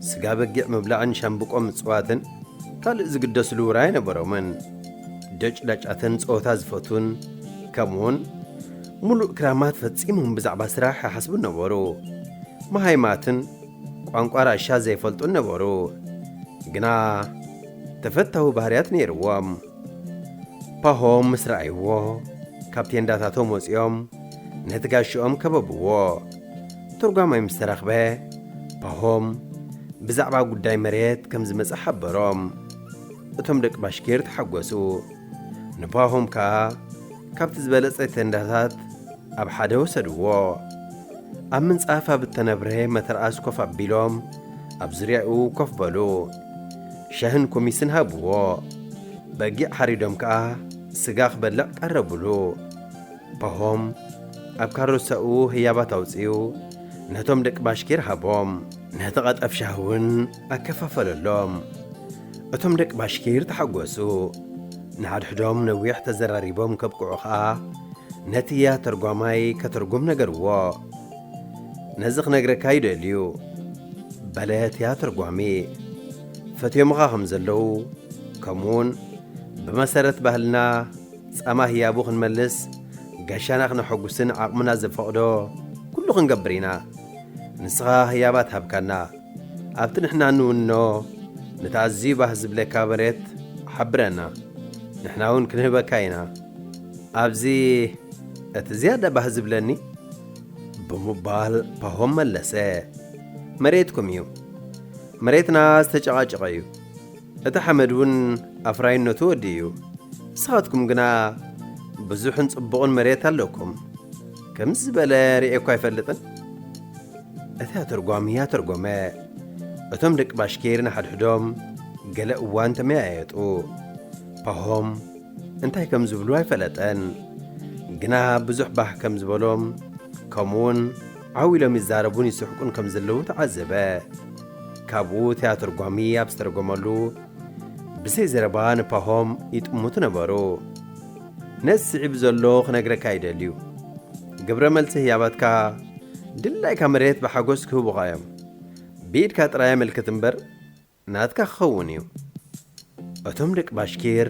ስጋ በጊዕ ምብላዕን ሻምብቆ ምጽዋትን ካልእ ዝግደስሉ ውራይ ኣይነበሮምን። ደጭዳጫትን ጸወታ ዝፈትዉን ከምኡ'ውን ምሉእ ክራማት ፈጺሞም ብዛዕባ ስራሕ ኣይሓስቡን ነበሩ። መሃይማትን ቋንቋ ራሻ ዘይፈልጡን ነበሩ። ግና ተፈታዊ ባህርያት ነይርዎም። ፓሆም ምስ ረኣይዎ፣ ካብ ቴንዳታቶም ወጺኦም ነቲ ጋሻኦም ከበብዎ። ተርጓማይ ምስ ተረኽበ፣ ፓሆም ብዛዕባ ጉዳይ መሬት ከም ዝመጸ ሓበሮም። እቶም ደቂ ባሽኪር ተሓጐሱ። ንፓሆም ከኣ ካብቲ ዝበለጸ ቴንዳታት ኣብ ሓደ ወሰድዎ። ኣብ ምንጻፍ ኣብ እተነብረ መተርኣስ ኮፍ ኣቢሎም ኣብ ዙርያኡ ኮፍ በሉ። ሻህን ኩሚስን ሃብዎ። በጊዕ ሓሪዶም ከኣ ስጋ ክበልዕ ቀረቡሉ። ፓሆም ኣብ ካሮሳኡ ህያባት ኣውጺኡ ነቶም ደቂ ባሽኪር ሃቦም። ነቲ ቐጠፍ ሻህ እውን ኣከፋፈለሎም። እቶም ደቂ ባሽኪር ተሓጐሱ። ንሓድሕዶም ነዊሕ ተዘራሪቦም ከብቅዑ ከኣ ነቲ ያህ ተርጓማይ ከተርጉም ነገርዎ። ነዚ ክነግረካ ይደልዩ በለት እያ ተርጓሚ ፈትዮምኻ ከም ዘለዉ ከምኡውን ብመሰረት ባህልና ጸማ ህያቡ ክንመልስ ጋሻና ክነሐጉስን ዓቕምና ዘፈቕዶ ኩሉ ክንገብር ኢና ንስኻ ህያባት ሃብካና ኣብቲ ንሕና እንውንኖ ነቲ ኣዝዩ ባህ ዝብለካ መሬት ሓብረና ንሕና እውን ክንህበካ ኢና ኣብዚ እቲ ዝያዳ ባህ ዝብለኒ ብምባል ፓሆም መለሰ። መሬትኩም እዩ። መሬትና ዝተጨቓጨቐ እዩ። እቲ ሓመድ እውን ኣፍራይነቱ ወዲ እዩ። ንስኻትኩም ግና ብዙሕን ጽቡቕን መሬት ኣለኩም። ከምዚ ዝበለ ርእየ እኳ ኣይፈልጥን። እቲ ኣተርጓሚ ኣተርጎመ። እቶም ደቂ ባሽኪር ንሓድሕዶም ገለ እዋን ተመያየጡ። ፓሆም እንታይ ከም ዝብሉ ኣይፈለጠን ግና ብዙሕ ባህ ከም ዝበሎም ከምኡውን ዓው ኢሎም ይዛረቡን ይስሕቁን ከም ዘለዉ ተዓዘበ ካብኡ ትያትርጓሚ ኣብ ዝተረጎመሉ ብዘይ ዘረባ ንፓሆም ይጥምቱ ነበሩ ነዚ ስዒቡ ዘሎ ክነግረካ ይደልዩ ግብረ መልሲ ህያባትካ ድላይካ መሬት ብሓጎስ ክህቡኻ እዮም ብኢድካ ጥራይ ኣመልክት እምበር ናትካ ክኸውን እዩ። እቶም ደቂ ባሽኪር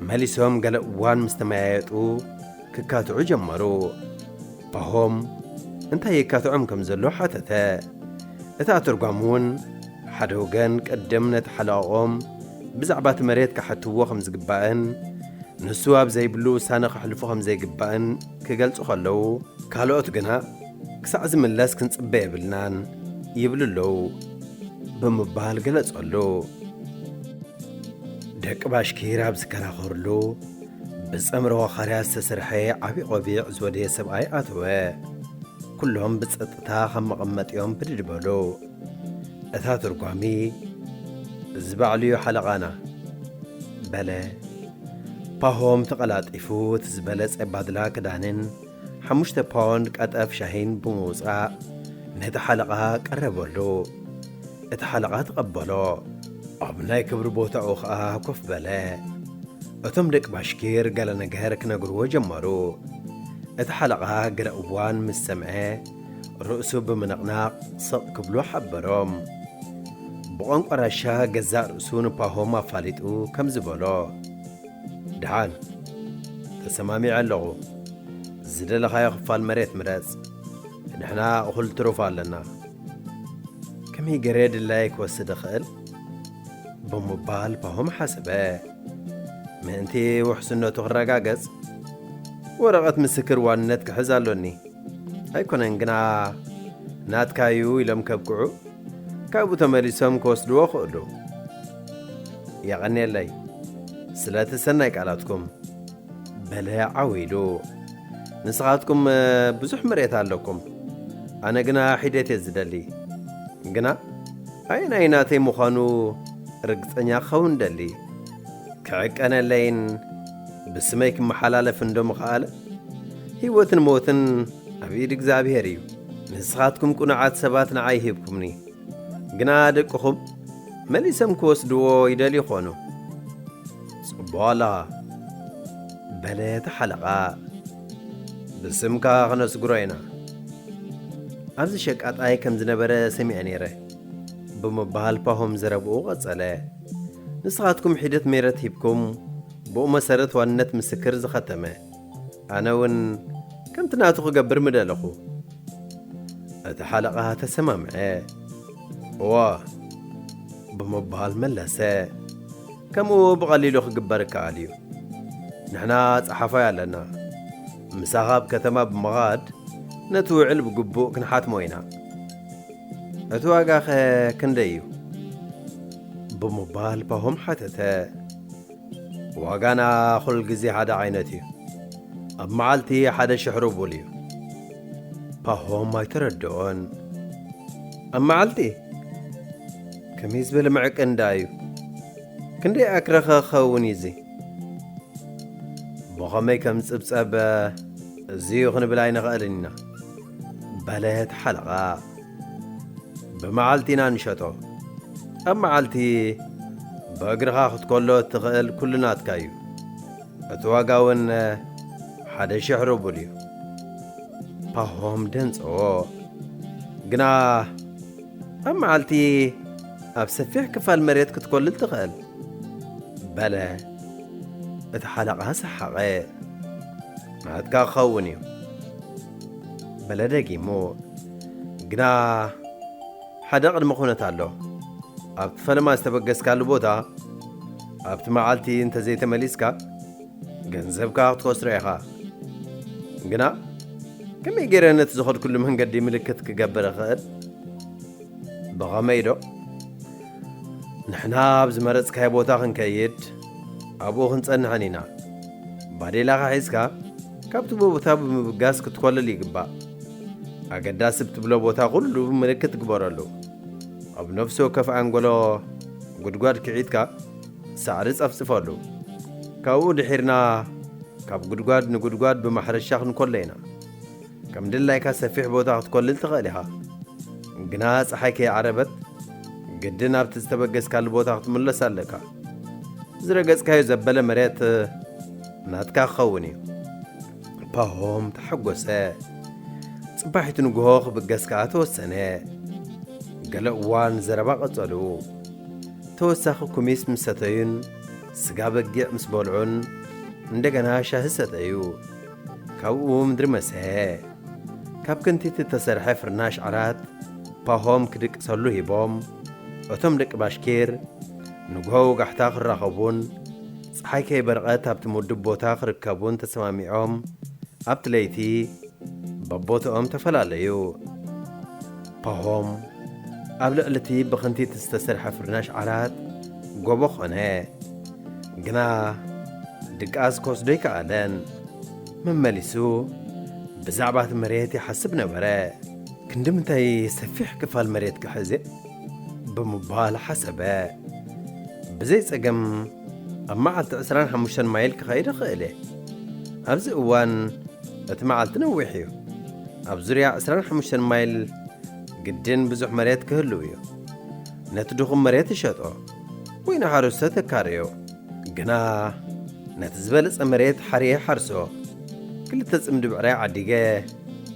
መሊሶም ገለ እዋን ምስ ተመያየጡ ክካትዑ ጀመሩ። ፓሆም እንታይ የካትዖም ከም ዘሎ ሓተተ። እቲ ኣተርጓሚ እውን ሓደ ወገን ቅድም ነቲ ሓለቓኦም ብዛዕባ እቲ መሬት ክሓትዎ ከም ዝግባእን ንሱ ኣብ ዘይብሉ ውሳነ ከሕልፉ ከም ዘይግባእን ክገልጹ ከለዉ ካልኦት ግና ክሳዕ ዝምለስ ክንጽበ የብልናን ይብሉ ኣለዉ ብምባል ገለጸሉ። ደቂ ባሽኪር ኣብ ዝከራኸርሉ ብጸምረ ዋኻርያ ዝተሰርሐ ዓብዪ ቆቢዕ ዝወደየ ሰብኣይ ኣተወ። ኩሎም ብጸጥታ ካብ መቐመጢኦም ብድድ በሉ። እታ ተርጓሚ እዚ ባዕሉ እዩ ሓለቓና በለ። ፓሆም ተቐላጢፉ እቲ ዝበለጸ ባድላ ክዳንን ሓሙሽተ ፓውንድ ቀጠፍ ሻሂን ብምውጻእ ነቲ ሓለቓ ቀረበሉ። እቲ ሓለቓ ተቐበሎ፣ ኣብ ናይ ክብሪ ቦታኡ ኸኣ ኮፍ በለ። እቶም ደቂ ባሽኪር ገለ ነገር ክነግርዎ ጀመሩ። እቲ ሓለቓ ገለ እዋን ምስ ሰምዐ፣ ርእሱ ብምንቕናቕ ስቕ ክብሉ ሓበሮም። ብቋንቋ ራሻ ገዛእ ርእሱ ንፓሆም ኣፋሊጡ ከምዚ በሎ። ድሓን ተሰማሚዐ ኣለኹ ዝደለኻዮ ክፋል መሬት ምረጽ ንሕና እኹል ትሩፍ ኣለና ከመይ ገሬ ድላየ ክወስድ እኽእል ብምባል ፓሆም ሓሰበ ምእንቲ ውሕስነቱ ክረጋገጽ ወረቐት ምስክር ዋንነት ክሕዝ ኣሎኒ ኣይኮነን ግና ናትካዩ ኢሎም ከብቅዑ ካብኡ ተመሊሶም ክወስድዎ ክእሉ የቐኔለይ ስለቲ ሰናይ ቃላትኩም በለ ዓው ኢሉ። ንስኻትኩም ብዙሕ መሬት ኣለኩም፣ ኣነ ግና ሒደት እየ ዝደሊ። ግና ኣየናይ ናተይ ምዃኑ ርግጸኛ ክኸውን ደሊ። ክዕቀነለይን ብስመይ ክመሓላለፍ እንዶ ምኸኣለ ህይወትን ሞትን ኣብ ኢድ እግዚኣብሔር እዩ። ንስኻትኩም ቁኑዓት ሰባት ንዓይ ሂብኩምኒ፣ ግና ደቅኹም መሊሰም ክወስድዎ ይደልዩ ይኾኑ። ጽቡቕ ኣለኻ፣ በለ እቲ ሓለቓ። ብስምካ ክነስግሮ ኢና። ኣብዚ ሸቃጣይ ከም ዝነበረ ሰሚዐ ነይረ፣ ብምባል ፓሆም ዘረብኡ ቀጸለ። ንስኻትኩም ሒደት ሜረት ሂብኩም፣ ብኡ መሰረት ዋንነት ምስክር ዝኸተመ። ኣነ እውን ከምቲ ናቱ ክገብር ምደለኹ። እቲ ሓለቓ ተሰማምዐ። እወ። ብምባል መለሰ። ከምኡ ብቐሊሉ ክግበር ይከኣል እዩ። ንሕና ጸሓፋይ ኣለና። ምሳኻ ኣብ ከተማ ብምኻድ ነቲ ውዕል ብግቡእ ክንሓትሞ ኢና። እቲ ዋጋኸ ክንደይ እዩ? ብምባል ፓሆም ሓተተ። ዋጋና ኩል ግዜ ሓደ ዓይነት እዩ ኣብ መዓልቲ ሓደ ሽሕ ሩቡል እዩ። ፓሆም ኣይተረደኦን። ኣብ መዓልቲ? ከመይ ዝበለ ምዕቅን ደኣ እዩ? ክንደይ ኣክረ ከ ክኸውን እዩ እዚ? ብኸመይ ከም ዝጽብጸብ እዚ'ዩ ክንብል ኣይንኽእልን ኢና። በለት ሓለቓ። ብመዓልቲ ኢና ንሸጦ። ኣብ መዓልቲ ብእግርኻ ክትኮሎ እትኽእል ኩሉ ናትካ እዩ። እቲ ዋጋ እውን ሓደ ሽሕ ሩቡል እዩ። ፓሆም ደንጸዎ። ግና ኣብ መዓልቲ ኣብ ሰፊሕ ክፋል መሬት ክትኮልል ትኽእል። በለ። እቲ ሓለቓ ሰሓቐ። ናትካ ክኸውን እዩ። በለ ደጊሙ። ግና ሓደ ቅድመ ኩነት ኣሎ። ኣብቲ ፈለማ ዝተበገስካሉ ቦታ ኣብቲ መዓልቲ እንተዘይተመሊስካ ገንዘብካ ክትኸስሮ ኢኻ። ግና ከመይ ገይረ ነቲ ዝኸድኩሉ መንገዲ ምልክት ክገብር እኽእል? ብኸመይዶ ንሕና ኣብ ዝመረጽካዮ ቦታ ክንከይድ ኣብኡ ክንጸንሕን ኢና። ባዴላኻ ሒዝካ ካብቲ ቦታ ብምብጋስ ክትኮልል ይግባእ። ኣገዳሲ ብትብሎ ቦታ ኩሉ ምልክት ግበረሉ። ኣብ ነፍሲ ወከፍ ኣንጎሎ ጉድጓድ ክዒትካ ሳዕሪ ጸፍጽፈሉ። ካብኡ ድሒርና ካብ ጉድጓድ ንጉድጓድ ብማሕረሻ ክንኮሎ ኢና። ከም ድላይካ ሰፊሕ ቦታ ክትኮልል ትኽእል ኢኻ፣ ግና ጸሓይ ከይዓረበት ግድን ናብቲ ዝተበገስካሉ ቦታ ክትምለስ ኣለካ። ዝረገጽካዮ ዘበለ መሬት ናትካ ክኸውን እዩ። ፓሆም ተሓጎሰ። ጽባሒቱ ንግሆ ክብገስ ከኣ ተወሰነ። ገለ እዋን ዘረባ ቀጸሉ። ተወሳኺ ኩሚስ ምስ ሰተዩን ስጋ በጊዕ ምስ በልዑን እንደገና ሻሂ ሰተዩ። ካብኡ ምድሪ መሰሔ። ካብ ክንቲት እተሰርሐ ፍርናሽ ዓራት ፓሆም ኪድቅሰሉ ሂቦም፣ እቶም ደቂ ባሽኪር ንግሆ ወጋሕታ ኪራኸቡን ጸሓይ ከይበርቐት ኣብቲ ምዱብ ቦታ ኪርከቡን ተሰማሚዖም ኣብቲ ለይቲ በቦትኦም ተፈላለዩ። ፓሆም ኣብ ልዕሊ እቲ ብክንቲት ዝተሰርሐ ፍርናሽ ዓራት ጎቦ ዀነ። ግና ድቃስ ክወስዶ ኣይከኣለን። መመሊሱ ብዛዕባ እቲ መሬት ይሓስብ ነበረ። ክንዲ ምንታይ ሰፊሕ ክፋል መሬት ክሕዝ እየ? ብምባል ሓሰበ። ብዘይ ጸገም ኣብ መዓልቲ ዕስራን ሓሙሽተን ማይል ክኸይድ እኽእል እየ። ኣብዚ እዋን እቲ መዓልቲ ነዊሕ እዩ። ኣብ ዙርያ ዕስራን ሓሙሽተን ማይል ግድን ብዙሕ መሬት ክህልው እዩ። ነቲ ድኹም መሬት ይሸጦ። ወይ ንሓረስቶ ተካረዮ ግና ነቲ ዝበለጸ መሬት ሓርየ ሓርሶ። ክልተ ጽምዲ ብዕራይ ዓዲገ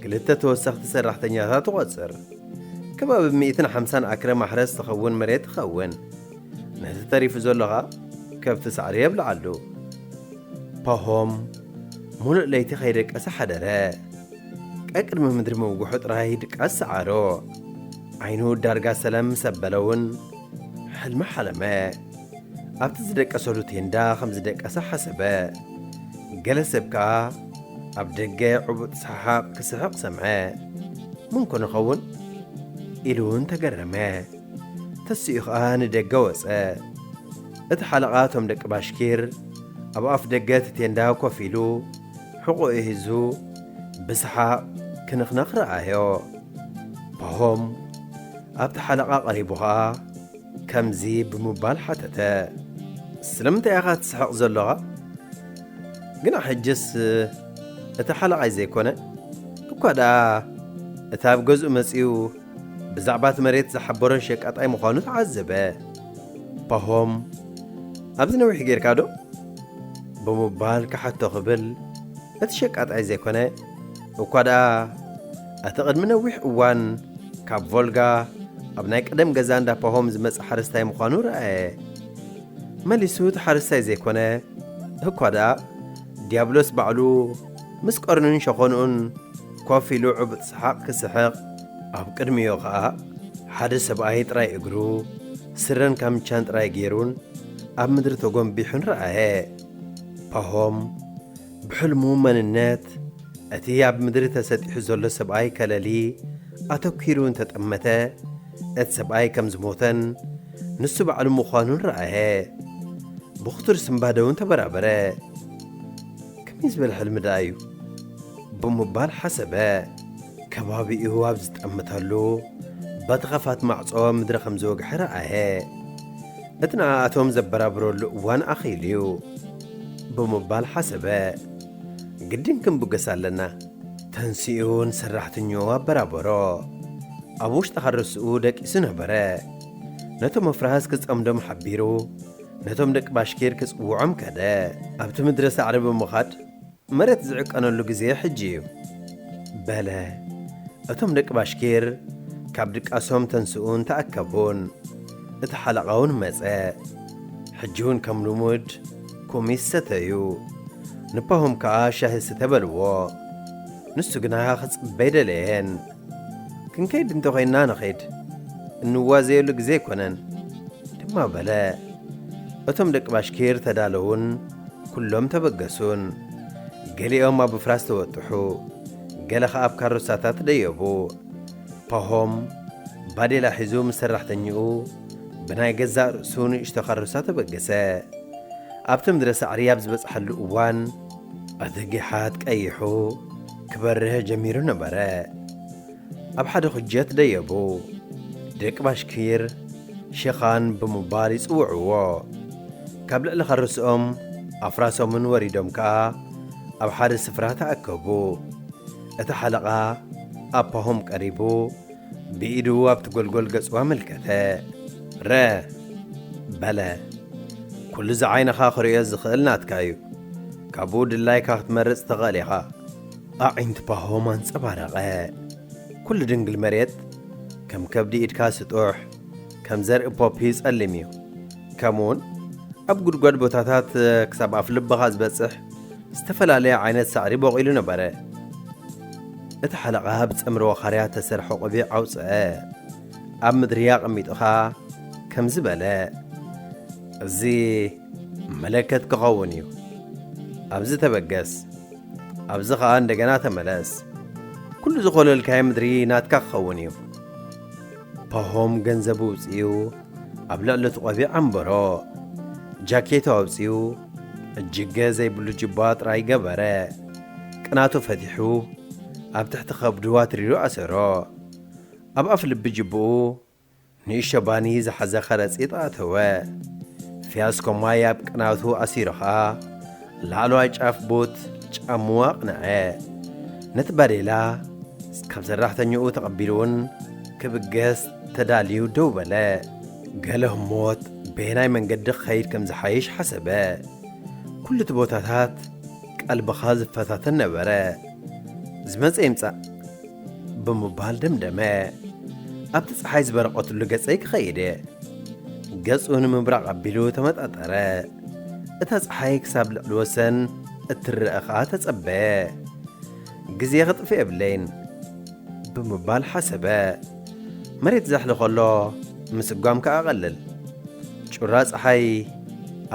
ክልተ ተወሰኽቲ ሰራሕተኛታት እቖጽር። ከባቢ ሚእትን ሓምሳን ኣክረ ማሕረስ ትኸውን መሬት ትኸውን። ነቲ ተሪፉ ዘሎ ኸኣ ከብቲ ሳዕሪ የብልዓሉ። ፓሆም ሙሉእ ለይቲ ከይደቀሰ ሓደረ። ቀቅድሚ ምድሪ ምውግሑ ጥራይ ድቃስ ሰዓሮ። ዓይኑ ዳርጋ ሰለም ምስ ኣበለውን ሕልሚ ሓለመ። ኣብቲ ዝደቀሰሉ ቴንዳ ከም ዝደቀሰ ሓሰበ። ገለ ሰብ ከኣ ኣብ ደገ ዕቡጥ ሰሓቕ ክስሕቕ ሰምዐ። መን ኮን ይኸውን? ኢሉ እውን ተገረመ። ተሲኡ ከኣ ንደገ ወጸ። እቲ ሓለቓ እቶም ደቂ ባሽኪር ኣብ ኣፍ ደገ እቲ ቴንዳ ኮፍ ኢሉ ሕቖኡ ሒዙ ብሰሓቕ ክንኽነኽ ረኣዮ። ፓሆም ኣብቲ ሓለቓ ቀሪቡ ኸኣ ከምዚ ብምባል ሓተተ። ስለምንታይ ኢኻ ትስሕቕ ዘሎኻ? ግና ሕጅስ እቲ ሓለቓይ ዘይኮነ፣ እኳ ደኣ እቲ ኣብ ገዝኡ መጺኡ ብዛዕባቲ መሬት ዝሓበሮን ሸቃጣይ ምዃኑ ተዓዘበ። ፓሆም ኣብዚ ነዊሕ ጌርካዶ? ብምባል ክሓቶ ክብል እቲ ሸቃጣይ ዘይኮነ እኳ ደኣ እቲ ቅድሚ ነዊሕ እዋን ካብ ቮልጋ ኣብ ናይ ቀደም ገዛ እንዳ ፓሆም ዝመጽእ ሓረስታይ ምዃኑ ረኣየ። መሊሱ እቲ ሓረስታይ ዘይኮነ እኳ ደኣ ዲያብሎስ ባዕሉ ምስ ቀርኑን ሸኾንኡን ኮፍ ኢሉ ዕቡጥ ሰሓቕ ክስሕቕ፣ ኣብ ቅድሚኡ ኸኣ ሓደ ሰብኣይ ጥራይ እግሩ፣ ስረን ካምቻን ጥራይ ገይሩን ኣብ ምድሪ ተጎንቢሑን ረኣየ። ፓሆም ብሕልሙ መንነት እቲ ኣብ ምድሪ ተሰጢሑ ዘሎ ሰብኣይ ከለሊ ኣተኲሩ እንተ ጠመተ፣ እቲ ሰብኣይ ከም ዝሞተን ንሱ ባዕሉ ምዃኑን ረኣየ። ብኽቱር ስንባደውን ተበራበረ። ከመይ ዝበለ ሕልሚ ደኣ እዩ? ብምባል ሓሰበ። ከባቢኡ ኣብ ዝጠምተሉ፣ በቲ ኸፋት ማዕጾ ምድሪ ኸም ዝወግሐ ረኣየ። እቲ ንኣኣቶም ዘበራብረሉ እዋን ኣኺሉ እዩ። ብምባል ሓሰበ። ግድን ክንብገስ ኣለና። ተንሲኡ ንሰራሕተኛኡ ኣበራበሮ። ኣብ ውሽጢ ሃረስኡ ደቂሱ ነበረ። ነቶም ኣፍራስ ክጸምዶም ሓቢሩ፣ ነቶም ደቂ ባሽኪር ክጽውዖም ከደ። ኣብቲ ምድረ ሳዕሪ ብምኻድ፣ መሬት ዝዕቀነሉ ግዜ ሕጂ እዩ። በለ። እቶም ደቂ ባሽኪር ካብ ድቃሶም ተንስኡን ተኣከቡን። እቲ ሓለቓውን መጸ። ሕጂውን ከም ልሙድ ኩሚስ ሰተዩ። ንፓሁም ከኣ ሻሂ ስተ በልዎ። ንሱ ግና ክጽበይ ደለየን። ክንከይድ እንተ ዄንና ንኺድ፣ እንዋዘየሉ ግዜ ኣይኰነን ድማ በለ። እቶም ደቂ ባሽኪር ተዳለዉን ኵሎም ተበገሱን። ገሊኦም ኣብ ኣፍራስ ተወጥሑ፣ ገለ ኸኣ ኣብ ካሮሳታት ደየቡ። ፓሆም ባዴላ ሒዙ ምስ ሰራሕተኛኡ ብናይ ገዛእ ርእሱ ንእሽቶ ካሮሳ ተበገሰ። ኣብቲ ምድረ ሳዕሪ ኣብ ዝበጽሓሉ እዋን፣ እቲ ጊሓት ቀይሑ። ክበርህ ጀሚሩ ነበረ። ኣብ ሓደ ኩጀት ደየቡ። ደቂ ባሽኪር ሸኻን ብምባል ይጽውዕዎ። ካብ ልዕሊ ከርስኦም ኣፍራሶምን ወሪዶም ከኣ ኣብ ሓደ ስፍራ ተኣከቡ። እቲ ሓለቓ ኣብ ፓሆም ቀሪቡ፣ ብኢዱ ኣብቲ ጐልጐል ገጹ ኣመልከተ። ረ በለ። ኩሉ እዚ ዓይንኻ ክርእዮ ዝኽእል ናትካ እዩ። ካብኡ ድላይካ ክትመርጽ ትኽእል ኢኻ። ኣዒንቲ ፓሆም ኣንጸባረቐ። ኩሉ ድንግል መሬት ከም ከብዲ ኢድካ ስጡሕ፣ ከም ዘርኢ ፖፒ ጸሊም እዩ። ከምኡውን ኣብ ጉድጓድ ቦታታት ክሳብ ኣፍልብኻ ዝበጽሕ ዝተፈላለየ ዓይነት ሳዕሪ ቦቒሉ ነበረ። እቲ ሓለቓ ብጸምሪ ወኻርያ እተሰርሐ ቆቢዕ ኣውጽኣ፣ ኣብ ምድሪ ኣቐሚጡ ኸኣ ከምዚ በለ፣ እዚ መለከት ኪኸውን እዩ። ኣብዚ ተበገስ፣ ኣብዚ ኸኣ እንደገና ተመለስ። ኵሉ ዝዀለልካዮ ምድሪ ናትካ ኪኸውን እዩ። ፓሆም ገንዘቡ ኣውጺኡ፣ ኣብ ልዕሊ እቲ ቆቢዕ ኣንበሮ ጃኬቱ ኣውጺኡ እጅገ ዘይብሉ ጅባ ጥራይ ገበረ። ቅናቱ ፈቲሑ ኣብ ትሕቲ ከብዱ ኣትሪሩ ኣሰሮ። ኣብ ኣፍ ልቢ ጅብኡ ንእሽቶ ባኒ ዝሓዘ ከረጺት ኣእተወ። ፊያስኮ ማይ ኣብ ቅናቱ ኣሲሩ ከኣ፣ ላዕለዋይ ጫፍ ቡት ጫምኡ ኣቕንዐ። ነቲ ባዴላ ካብ ሰራሕተኛኡ ተቐቢሉ'ውን ክብገስ ተዳልዩ ደው በለ። ገለ ህሞት በየናይ መንገዲ ክኸይድ ከም ዝሓይሽ ሓሰበ። ኩሉ'ቲ ቦታታት ቀልብኻ ዝፈታተን ነበረ። ዝመጸ ይምጻእ ብምባል ደምደመ። ኣብቲ ጸሓይ ዝበረቐትሉ ገጸይ ክኸይድ። ገጹ ንምብራቕ ኣቢሉ ተመጣጠረ። እታ ጸሓይ ክሳብ ልዕሊ ወሰን እትረኣ ኸኣ ተጸበየ። ግዜ ኽጥፍእ የብለይን ብምባል ሓሰበ። መሬት ዘሕሊ ኸሎ ምስጓም ከኣ ቐልል። ጩራ ጸሓይ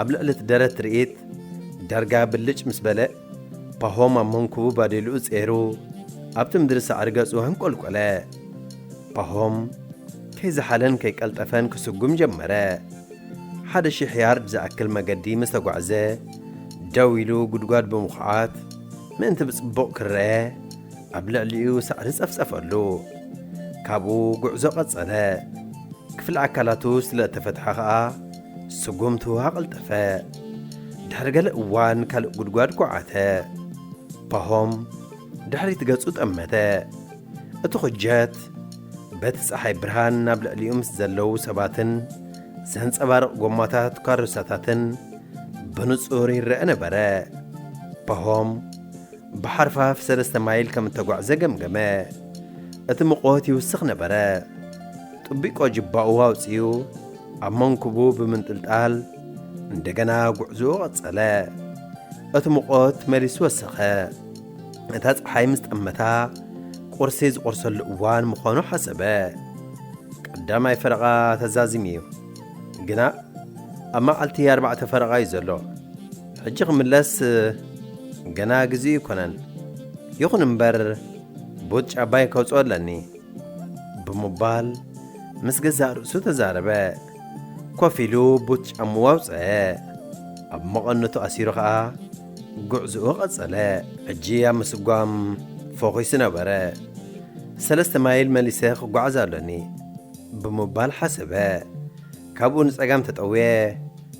ኣብ ልዕሊ እቲ ደረት ትርኢት ዳርጋ ብልጭ ምስ በለ፣ ፓሆም ኣብ መንኵቡ ባዴልኡ ጼሩ ኣብቲ ምድሪ ሳዕሪ ገጹ ኣንቈልቈለ። ፓሆም ከይዘሓለን ከይቀልጠፈን ክስጉም ጀመረ። ሓደ ሽሕ ያርድ ዝኣክል መገዲ ምስ ተጓዕዘ፣ ደው ኢሉ ጉድጓድ ብምኹዓት ምእንቲ ብጽቡቕ ክረኣ ኣብ ልዕሊኡ ሳዕሪ ጸፍጸፈሉ። ካብኡ ጉዕዞ ቀጸለ። ክፍሊ ኣካላቱ ስለ እተፈትሐ ኸኣ ስጉምቱ ኣቐልጠፈ። ድሕሪ ገለ እዋን ካልእ ጉድጓድ ኩዓተ። ፓሆም ድሕሪት ገጹ ጠመተ። እቲ ዅጀት በቲ ጸሓይ ብርሃን ኣብ ልዕሊኡ ምስ ዘለዉ ሰባትን ዘንጸባርቕ ጐማታት ካሮሳታትን ብንጹር ይረኣ ነበረ። ፓሆም ብሓርፋፍ ሰለስተ ማይል ከም እተጓዕዘ ገምገመ። እቲ ምቖት ይውስኽ ነበረ። ጥቢቆ ጅባኡ ኣውጺኡ ኣብ መንኩቡ ብምንጥልጣል እንደገና ጕዕዞኡ ቐጸለ። እቲ ምቖት መሊሱ ወሰኸ። እታ ፀሓይ ምስ ጠመታ ቁርሲ ዝቑርሰሉ እዋን ምዃኑ ሓሰበ። ቀዳማይ ፈረቓ ተዛዚሙ እዩ፣ ግና ኣብ መዓልቲ ኣርባዕተ ፈረቓ እዩ ዘሎ። ሕጂ ክምለስ ገና ግዜኡ ኣይኮነን። ይኹን እምበር ቡት ጫባይ ከውፅኦ ኣለኒ ብምባል ምስ ገዛእ ርእሱ ተዛረበ። ኮፍ ኢሉ ቡት ጫምኡ ኣውፅአ። ኣብ መቐነቱ ኣሲሩ ኸኣ ጉዕዝኡ ቐጸለ። ሕጂ ኣብ ምስጓም ፎኺሱ ነበረ። ሰለስተ ማይል መሊሰ ክጓዓዝ ኣሎኒ ብምባል ሓሰበ። ካብኡ ንጸጋም ተጠውየ።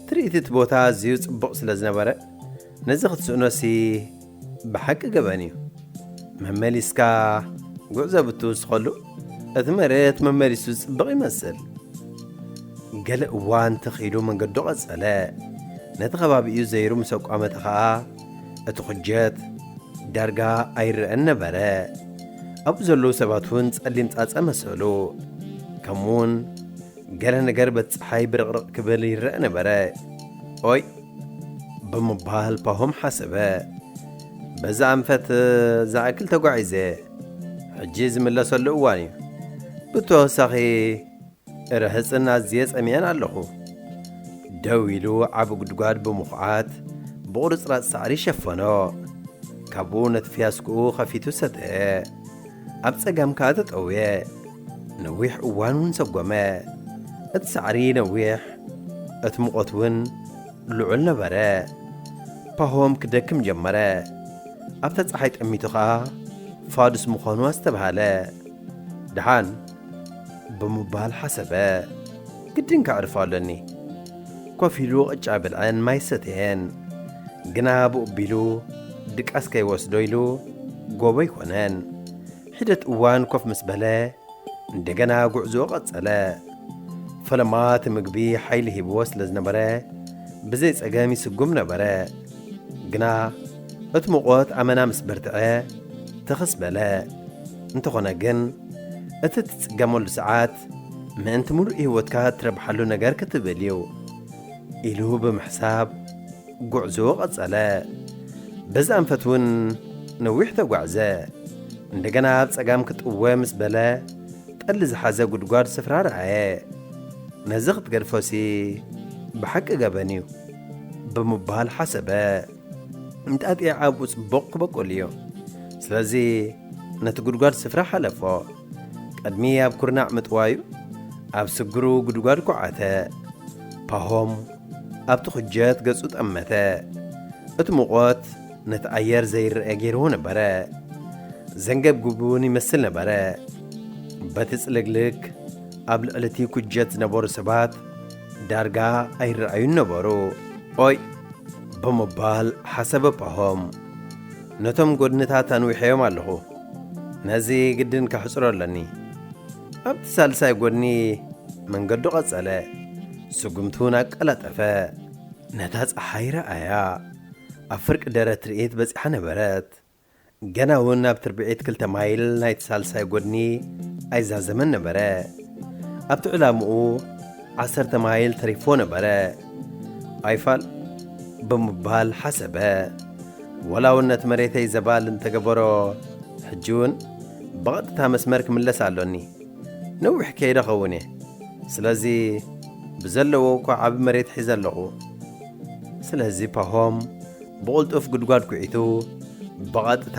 ትርኢት እቲ ቦታ ኣዝዩ ጽቡቕ ስለ ዝነበረ ነዚ ክትስእኖሲ ብሓቂ ገበን እዩ መመሊስካ ጉዕዞ ብትውስኸሉ እቲ መሬት መመሊሱ ዝጽብቕ ይመስል ገለ እዋን ተኺሉ መንገዱ ቐጸለ ነቲ ኸባቢኡ ዘይሩ ምስ ኣቋመተ ኸኣ እቲ ኩጀት ዳርጋ ኣይረኣን ነበረ ኣብኡ ዘለዉ ሰባት እውን ጸሊም ጻጸ መሰሉ ከምኡውን ገለ ነገር በቲ ጸሓይ ብርቕርቕ ክብል ይረኣ ነበረ ኦይ ብምባል ፓሆም ሓሰበ። በዚ ኣንፈት ዝኣክል ተጓዒዘ ሕጂ ዝምለሰሉ እዋን እዩ። ብተወሳኺ ርህጽን ኣዝየ ጸሚየን ኣለኹ። ደው ኢሉ ዓቢ ጉድጓድ ብምኹዓት ብቑርጽራጽ ሳዕሪ ሸፈኖ። ካብኡ ነቲ ፍያስክኡ ኸፊቱ ሰተየ። ኣብ ጸጋም ከኣ ተጠውየ። ነዊሕ እዋን ውን ሰጎመ። እቲ ሳዕሪ ነዊሕ እቲ ሙቐት ውን ልዑል ነበረ። ፓሆም ክደክም ጀመረ። ኣብታ ጸሓይ ጠሚቱ ከኣ ፋዱስ ምዃኑ ኣስተብሃለ። ደሓን ብምባል ሓሰበ። ግድን ከዕርፎ ኣሎኒ። ኮፍ ኢሉ ቅጫ በልዐን ማይ ሰተየን። ግና ብኡቢሉ ድቃስ ከይወስዶ ኢሉ ጎቦ ኣይኮነን። ሒደት እዋን ኮፍ ምስ በለ እንደገና ጉዕዞኡ ቀጸለ። ፈለማ እቲ ምግቢ ሓይሊ ሂብዎ ስለ ዝነበረ ብዘይ ጸገም ይስጉም ነበረ። ግና እቲ ሙቖት ኣመና ምስ በርትዐ ትኽስ በለ። እንተኾነ ግን እቲ እትጽገመሉ ሰዓት ምእንቲ ምሉእ ህይወትካ እትረብሓሉ ነገር ክትብል እዩ ኢሉ ብምሕሳብ፣ ጉዕዞ ቀጸለ። በዚ ኣንፈት እውን ነዊሕ ተጓዕዘ። እንደገና ኣብ ጸጋም ክጥወ ምስ በለ ጠሊ ዝሓዘ ጉድጓድ ስፍራ ረኣየ። ነዚ ክትገድፎሲ ብሓቂ ገበን እዩ ብምባል ሓሰበ። እንጣጢዕ ኣብኡ ጽቡቕ ክበቁል እዩ። ስለዚ ነቲ ጉድጓድ ስፍራ ሓለፎ። ቅድሚ ኣብ ኩርናዕ ምጥዋዩ ኣብ ስግሩ ጉድጓድ ኩዓተ። ፓሆም ኣብ ትዅጀት ገጹ ጠመተ። እቲ ሙቐት ነቲ ኣየር ዘይረኣ ገይርዎ ነበረ። ዘንገብግብ እውን ይመስል ነበረ። በቲ ጽልግልግ ኣብ ልዕሊ እቲ ኵጀት ዝነበሩ ሰባት ዳርጋ ኣይረኣዩን ነበሩ። ኦይ! ብምባል ሓሰበ ፓሆም። ነቶም ጐድንታት ኣንዊሐዮም ኣለኹ። ነዚ ግድን ከሕጽሮ ኣለኒ። ኣብቲ ሳልሳይ ጐድኒ መንገዱ ቐጸለ፣ ስጕምቱ'ውን ኣቀላጠፈ። ነታ ጸሓይ ረኣያ። ኣብ ፍርቂ ደረት ትርኢት በጺሓ ነበረት። ገና'ውን ኣብ ትርብዒት ክልተ ማይል ናይቲ ሳልሳይ ጐድኒ ኣይዛዘመን ነበረ። ኣብቲ ዕላምኡ ዓሰርተ ማይል ተሪፍዎ ነበረ። ኣይፋል ብምባል ሓሰበ። ወላውነት መሬተይ ዘባል እንተገበሮ ሕጂውን ብቐጥታ መስመር ክምለስ ኣሎኒ። ነዊሕ ከይደ ኸውን እየ። ስለዚ ብዘለዎ እኳ ዓቢ መሬት ሒዘ ኣለኹ። ስለዚ ፓሆም ብቕልጡፍ ጉድጓድ ኩዒቱ ብቐጥታ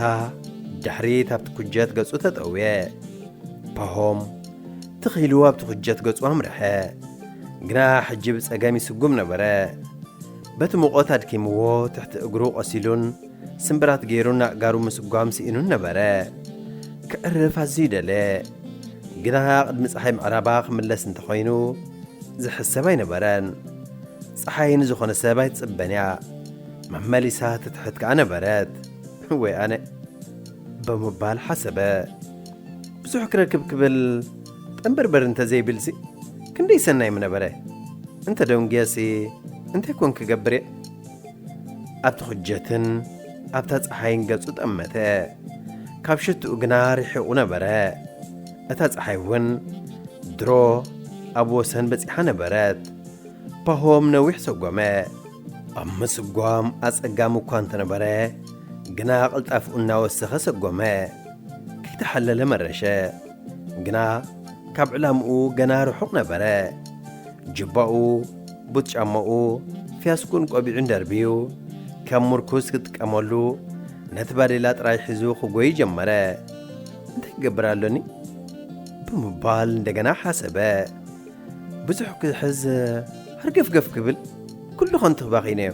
ድሕሪት ኣብቲ ኩጀት ገጹ ተጠውየ። ፓሆም ትኽ ኢሉ ኣብቲ ኩጀት ገጹ ኣምርሐ። ግና ሕጂ ብጸገም ይስጉም ነበረ። በቲ ሙቐት ኣድኪምዎ ትሕቲ እግሩ ቈሲሉን ስምብራት ገይሩን ኣእጋሩ ምስጓም ስኢኑን ነበረ። ክዕርፍ ኣዝዩ ደለ። ግና ቅድሚ ፀሓይ ምዕራባ ክምለስ እንተኾይኑ ዝሕሰብ ኣይነበረን። ፀሓይ ንዝኾነ ሰብ ኣይትጽበን እያ። መመሊሳ ትትሕት ከኣ ነበረት። ወይ ኣነ ብምባል ሓሰበ። ብዙሕ ክረክብ ክብል ጠምበርበር እንተዘይብልሲ ክንደይ ሰናይ ምነበረ፣ እንተ ደንጉየሲ እንታይ ኮን ክገብርየ? ኣብ ትኹጀትን ኣብታ ጸሓይን ገጹ ጠመተ። ካብ ሽትኡ ግና ርሒቑ ነበረ። እታ ጸሓይ እውን ድሮ ኣብ ወሰን በጺሓ ነበረት። ፓሆም ነዊሕ ሰጎመ። ኣብ ምስጓም ኣጸጋሚ እኳ እንተነበረ ግና ቅልጣፍኡ እናወሰኸ ሰጎመ። ከይተሓለለ መረሸ። ግና ካብ ዕላምኡ ገና ርሑቕ ነበረ። ጁባኡ፣ ቡት ጫማኡ፣ ፊያስኩኡን ቆቢዑን ደርብዩ፣ ከም ሙርኩስ ክጥቀመሉ ነቲ ባዴላ ጥራይ ሒዙ ክጎዪ ጀመረ። እንታይ ክገብር ኣሎኒ? ብምባል እንደገና ሓሰበ። ብዙሕ ክሕዝ ሃርገፍገፍ ክብል ኩሉ ከንቱ ክባኺነዮ።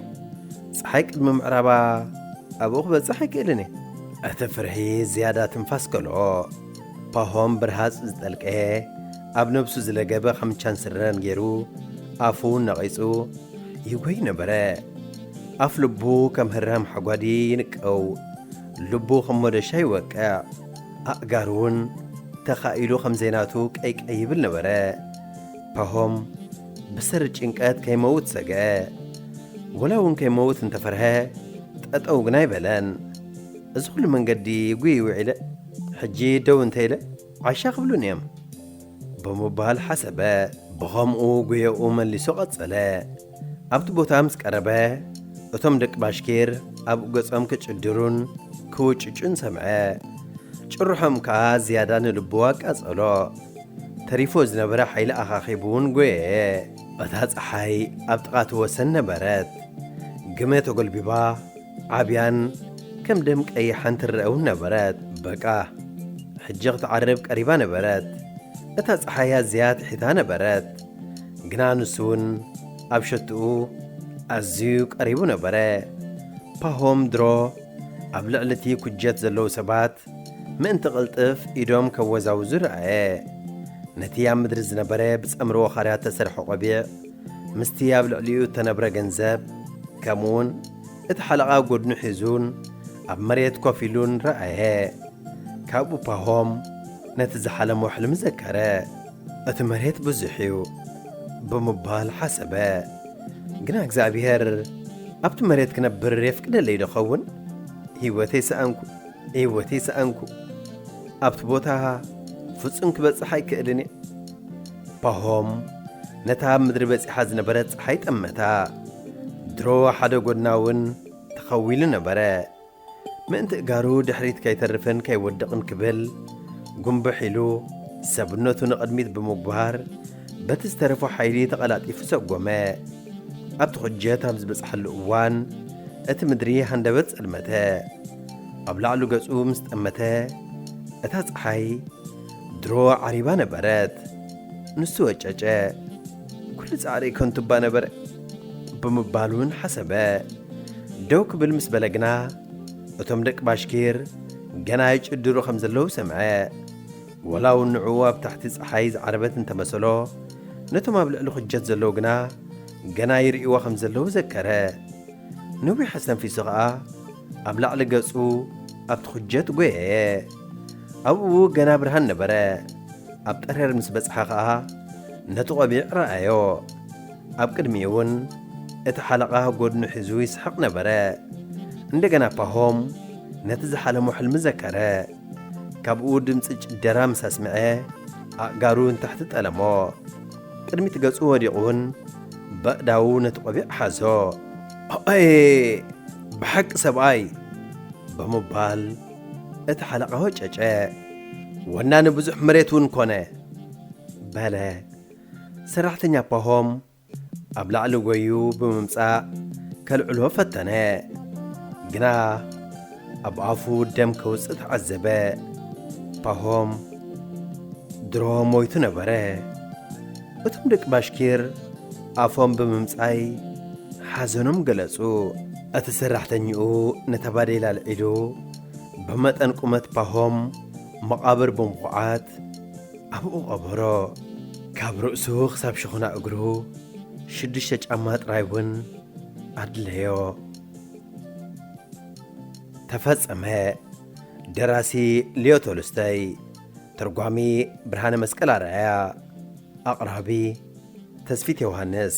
ፀሓይ ቅድሚ ምዕራባ ኣብኡ ክበጽሕ ኣይክእልን እየ። እቲ ፍርሒ ዝያዳ ትንፋስ ከልኦ። ፓሆም ብርሃጽ ዝጠልቀየ፣ ኣብ ነብሱ ዝለገበ ኻምቻን ስረን ገይሩ፣ ኣፉ ነቒጹ ይጐዪ ነበረ። ኣፍ ልቡ ከም ህራም ሓጓዲ ይንቀው፣ ልቡ ኸም ሞደሻ ይወቅዕ፣ ኣእጋሩውን ተኻኢሉ ኸም ዘይናቱ ቀይቀይ ይብል ነበረ። ፓሆም ብሰሪ ጭንቀት ከይመውት ሰግአ። ወላውን ከይመውት እንተ ፈርሀ፣ ጠጠው ግና ኣይበለን። እዚ ኹሉ መንገዲ ጒዪ ውዒለ። ሕጂ ደው እንተ ኢለ ዓሻ ክብሉኒ እዮም ብምባል ሓሰበ። ብኸምኡ ጉየኡ መሊሱ ቀጸለ። ኣብቲ ቦታ ምስ ቀረበ እቶም ደቂ ባሽኪር ኣብ ገጾም ክጭድሩን ክውጭጩን ሰምዐ። ጭርሖም ከኣ ዝያዳ ንልቡ ኣቃጸሎ። ተሪፉ ዝነበረ ሓይሊ ኣኻኺቡ እውን ጎየየ። እታ ጸሓይ ኣብ ጥቓ እቲ ወሰን ነበረት። ግመ ተጎልቢባ ዓብያን ከም ደም ቀይሓን ትረኣ እውን ነበረት። በቃ ሕጂ ክትዓርብ ቀሪባ ነበረት። እታ ጸሓይ ኣዝያ ትሒታ ነበረት፣ ግና ንሱ እውን ኣብ ሸቶኡ ኣዝዩ ቀሪቡ ነበረ። ፓሆም ድሮ ኣብ ልዕሊ እቲ ኩጀት ዘለዉ ሰባት ምእንቲ ቅልጥፍ ኢዶም ከወዛውዙ ረኣየ። ነቲ ኣብ ምድሪ ዝነበረ ብጸምሪ ወኻርያ እተሰርሐ ቆቢዕ፣ ምስቲ ኣብ ልዕሊኡ እተነብረ ገንዘብ፣ ከምኡውን እቲ ሓለቓ ጐድኑ ሒዙን ኣብ መሬት ኮፍ ኢሉን ረኣየ። ካብኡ ፓሆም ነቲ ዝሓለሞ ሕልሚ ዘከረ። እቲ መሬት ብዙሕ እዩ ብምባል ሓሰበ። ግና እግዚኣብሄር ኣብቲ መሬት ክነብር የፍቅደለይዶ ይኸውን? ህይወተይ ሰኣንኩ! ህይወተይ ሰኣንኩ! ኣብቲ ቦታ ፍጹም ክበጽሕ ኣይክእልን እየ! ፓሆም ነታ ኣብ ምድሪ በጺሓ ዝነበረት ፀሓይ ጠመታ። ድሮ ሓደ ጎድና እውን ተኸዊሉ ነበረ። ምእንቲ እጋሩ ድሕሪት ከይተርፍን ከይወድቕን ክብል ጉንብሕ ኢሉ ሰብነቱ ንቕድሚት ብምጉባር በቲ ዝተረፎ ሓይሊ ተቐላጢፉ ሰጎመ። ኣብቲ ኩጀት ኣብ ዝበጽሓሉ እዋን እቲ ምድሪ ሃንደበት ጸልመተ። ኣብ ላዕሉ ገጹ ምስ ጠመተ እታ ፀሓይ ድሮ ዓሪባ ነበረት ንሱ ወጨጨ ኩሉ ጻዕሪ ከንቱ እባ ነበረ ብምባል እውን ሓሰበ ደው ክብል ምስ በለ ግና እቶም ደቂ ባሽኪር ገና ይጭድሩ ከም ዘለዉ ሰምዐ ወላ እውን ንዕኡ ኣብ ታሕቲ ፀሓይ ዝዓረበት እንተመሰሎ ነቶም ኣብ ልዕሊ ኩጀት ዘለዉ ግና ገና ይርእይዎ ከም ዘለዉ ዘከረ ነዊሕ ኣስተንፊሱ ኸኣ ኣብ ላዕሊ ገጹ ኣብቲ ኩጀት ጐየየ ኣብኡ ገና ብርሃን ነበረ። ኣብ ጠረር ምስ በጽሐ ኸኣ ነቲ ቆቢዕ ረኣዮ። ኣብ ቅድሚኡውን እቲ ሓለቓ ጎድኑ ሒዙ ይስሕቕ ነበረ። እንደገና ፓሆም ነቲ ዝሓለሞ ሕልሚ ዘከረ። ካብኡ ድምፂ ጭደራ ምስ ኣስምዐ ኣእጋሩ ንታሕቲ ጠለሞ። ቅድሚት ገጹ ወዲቑውን በእዳዉ ነቲ ቆቢዕ ሓዞ። ኣየ ብሓቂ ሰብኣይ! ብምባል እቲ ሓለቓ ወጨጨ፣ ወናኒ ብዙሕ መሬት እውን ኮነ በለ። ሰራሕተኛ ፓሆም ኣብ ላዕሊ ጎዩ ብምምጻእ ከልዕሎ ፈተነ፣ ግና ኣብ ኣፉ ደም ከውጽእ ተዓዘበ። ፓሆም ድሮ ሞይቱ ነበረ። እቶም ደቂ ባሽኪር ኣፎም ብምምጻይ ሓዘኖም ገለጹ። እቲ ሰራሕተኛኡ ነታ ባዴላ ኣልዒሉ ብመጠን ቁመት ፓሆም መቓብር ብምኹዓት ኣብኡ ቀበሮ። ካብ ርእሱ ክሳብ ሸኹና እግሩ ሽዱሽተ ጫማ ጥራይ እውን ኣድለዮ። ተፈጸመ። ደራሲ ሊዮ ቶልስቶይ ተርጓሚ ብርሃነ መስቀል ኣርኣያ ኣቕራቢ ተስፊት ዮውሃንስ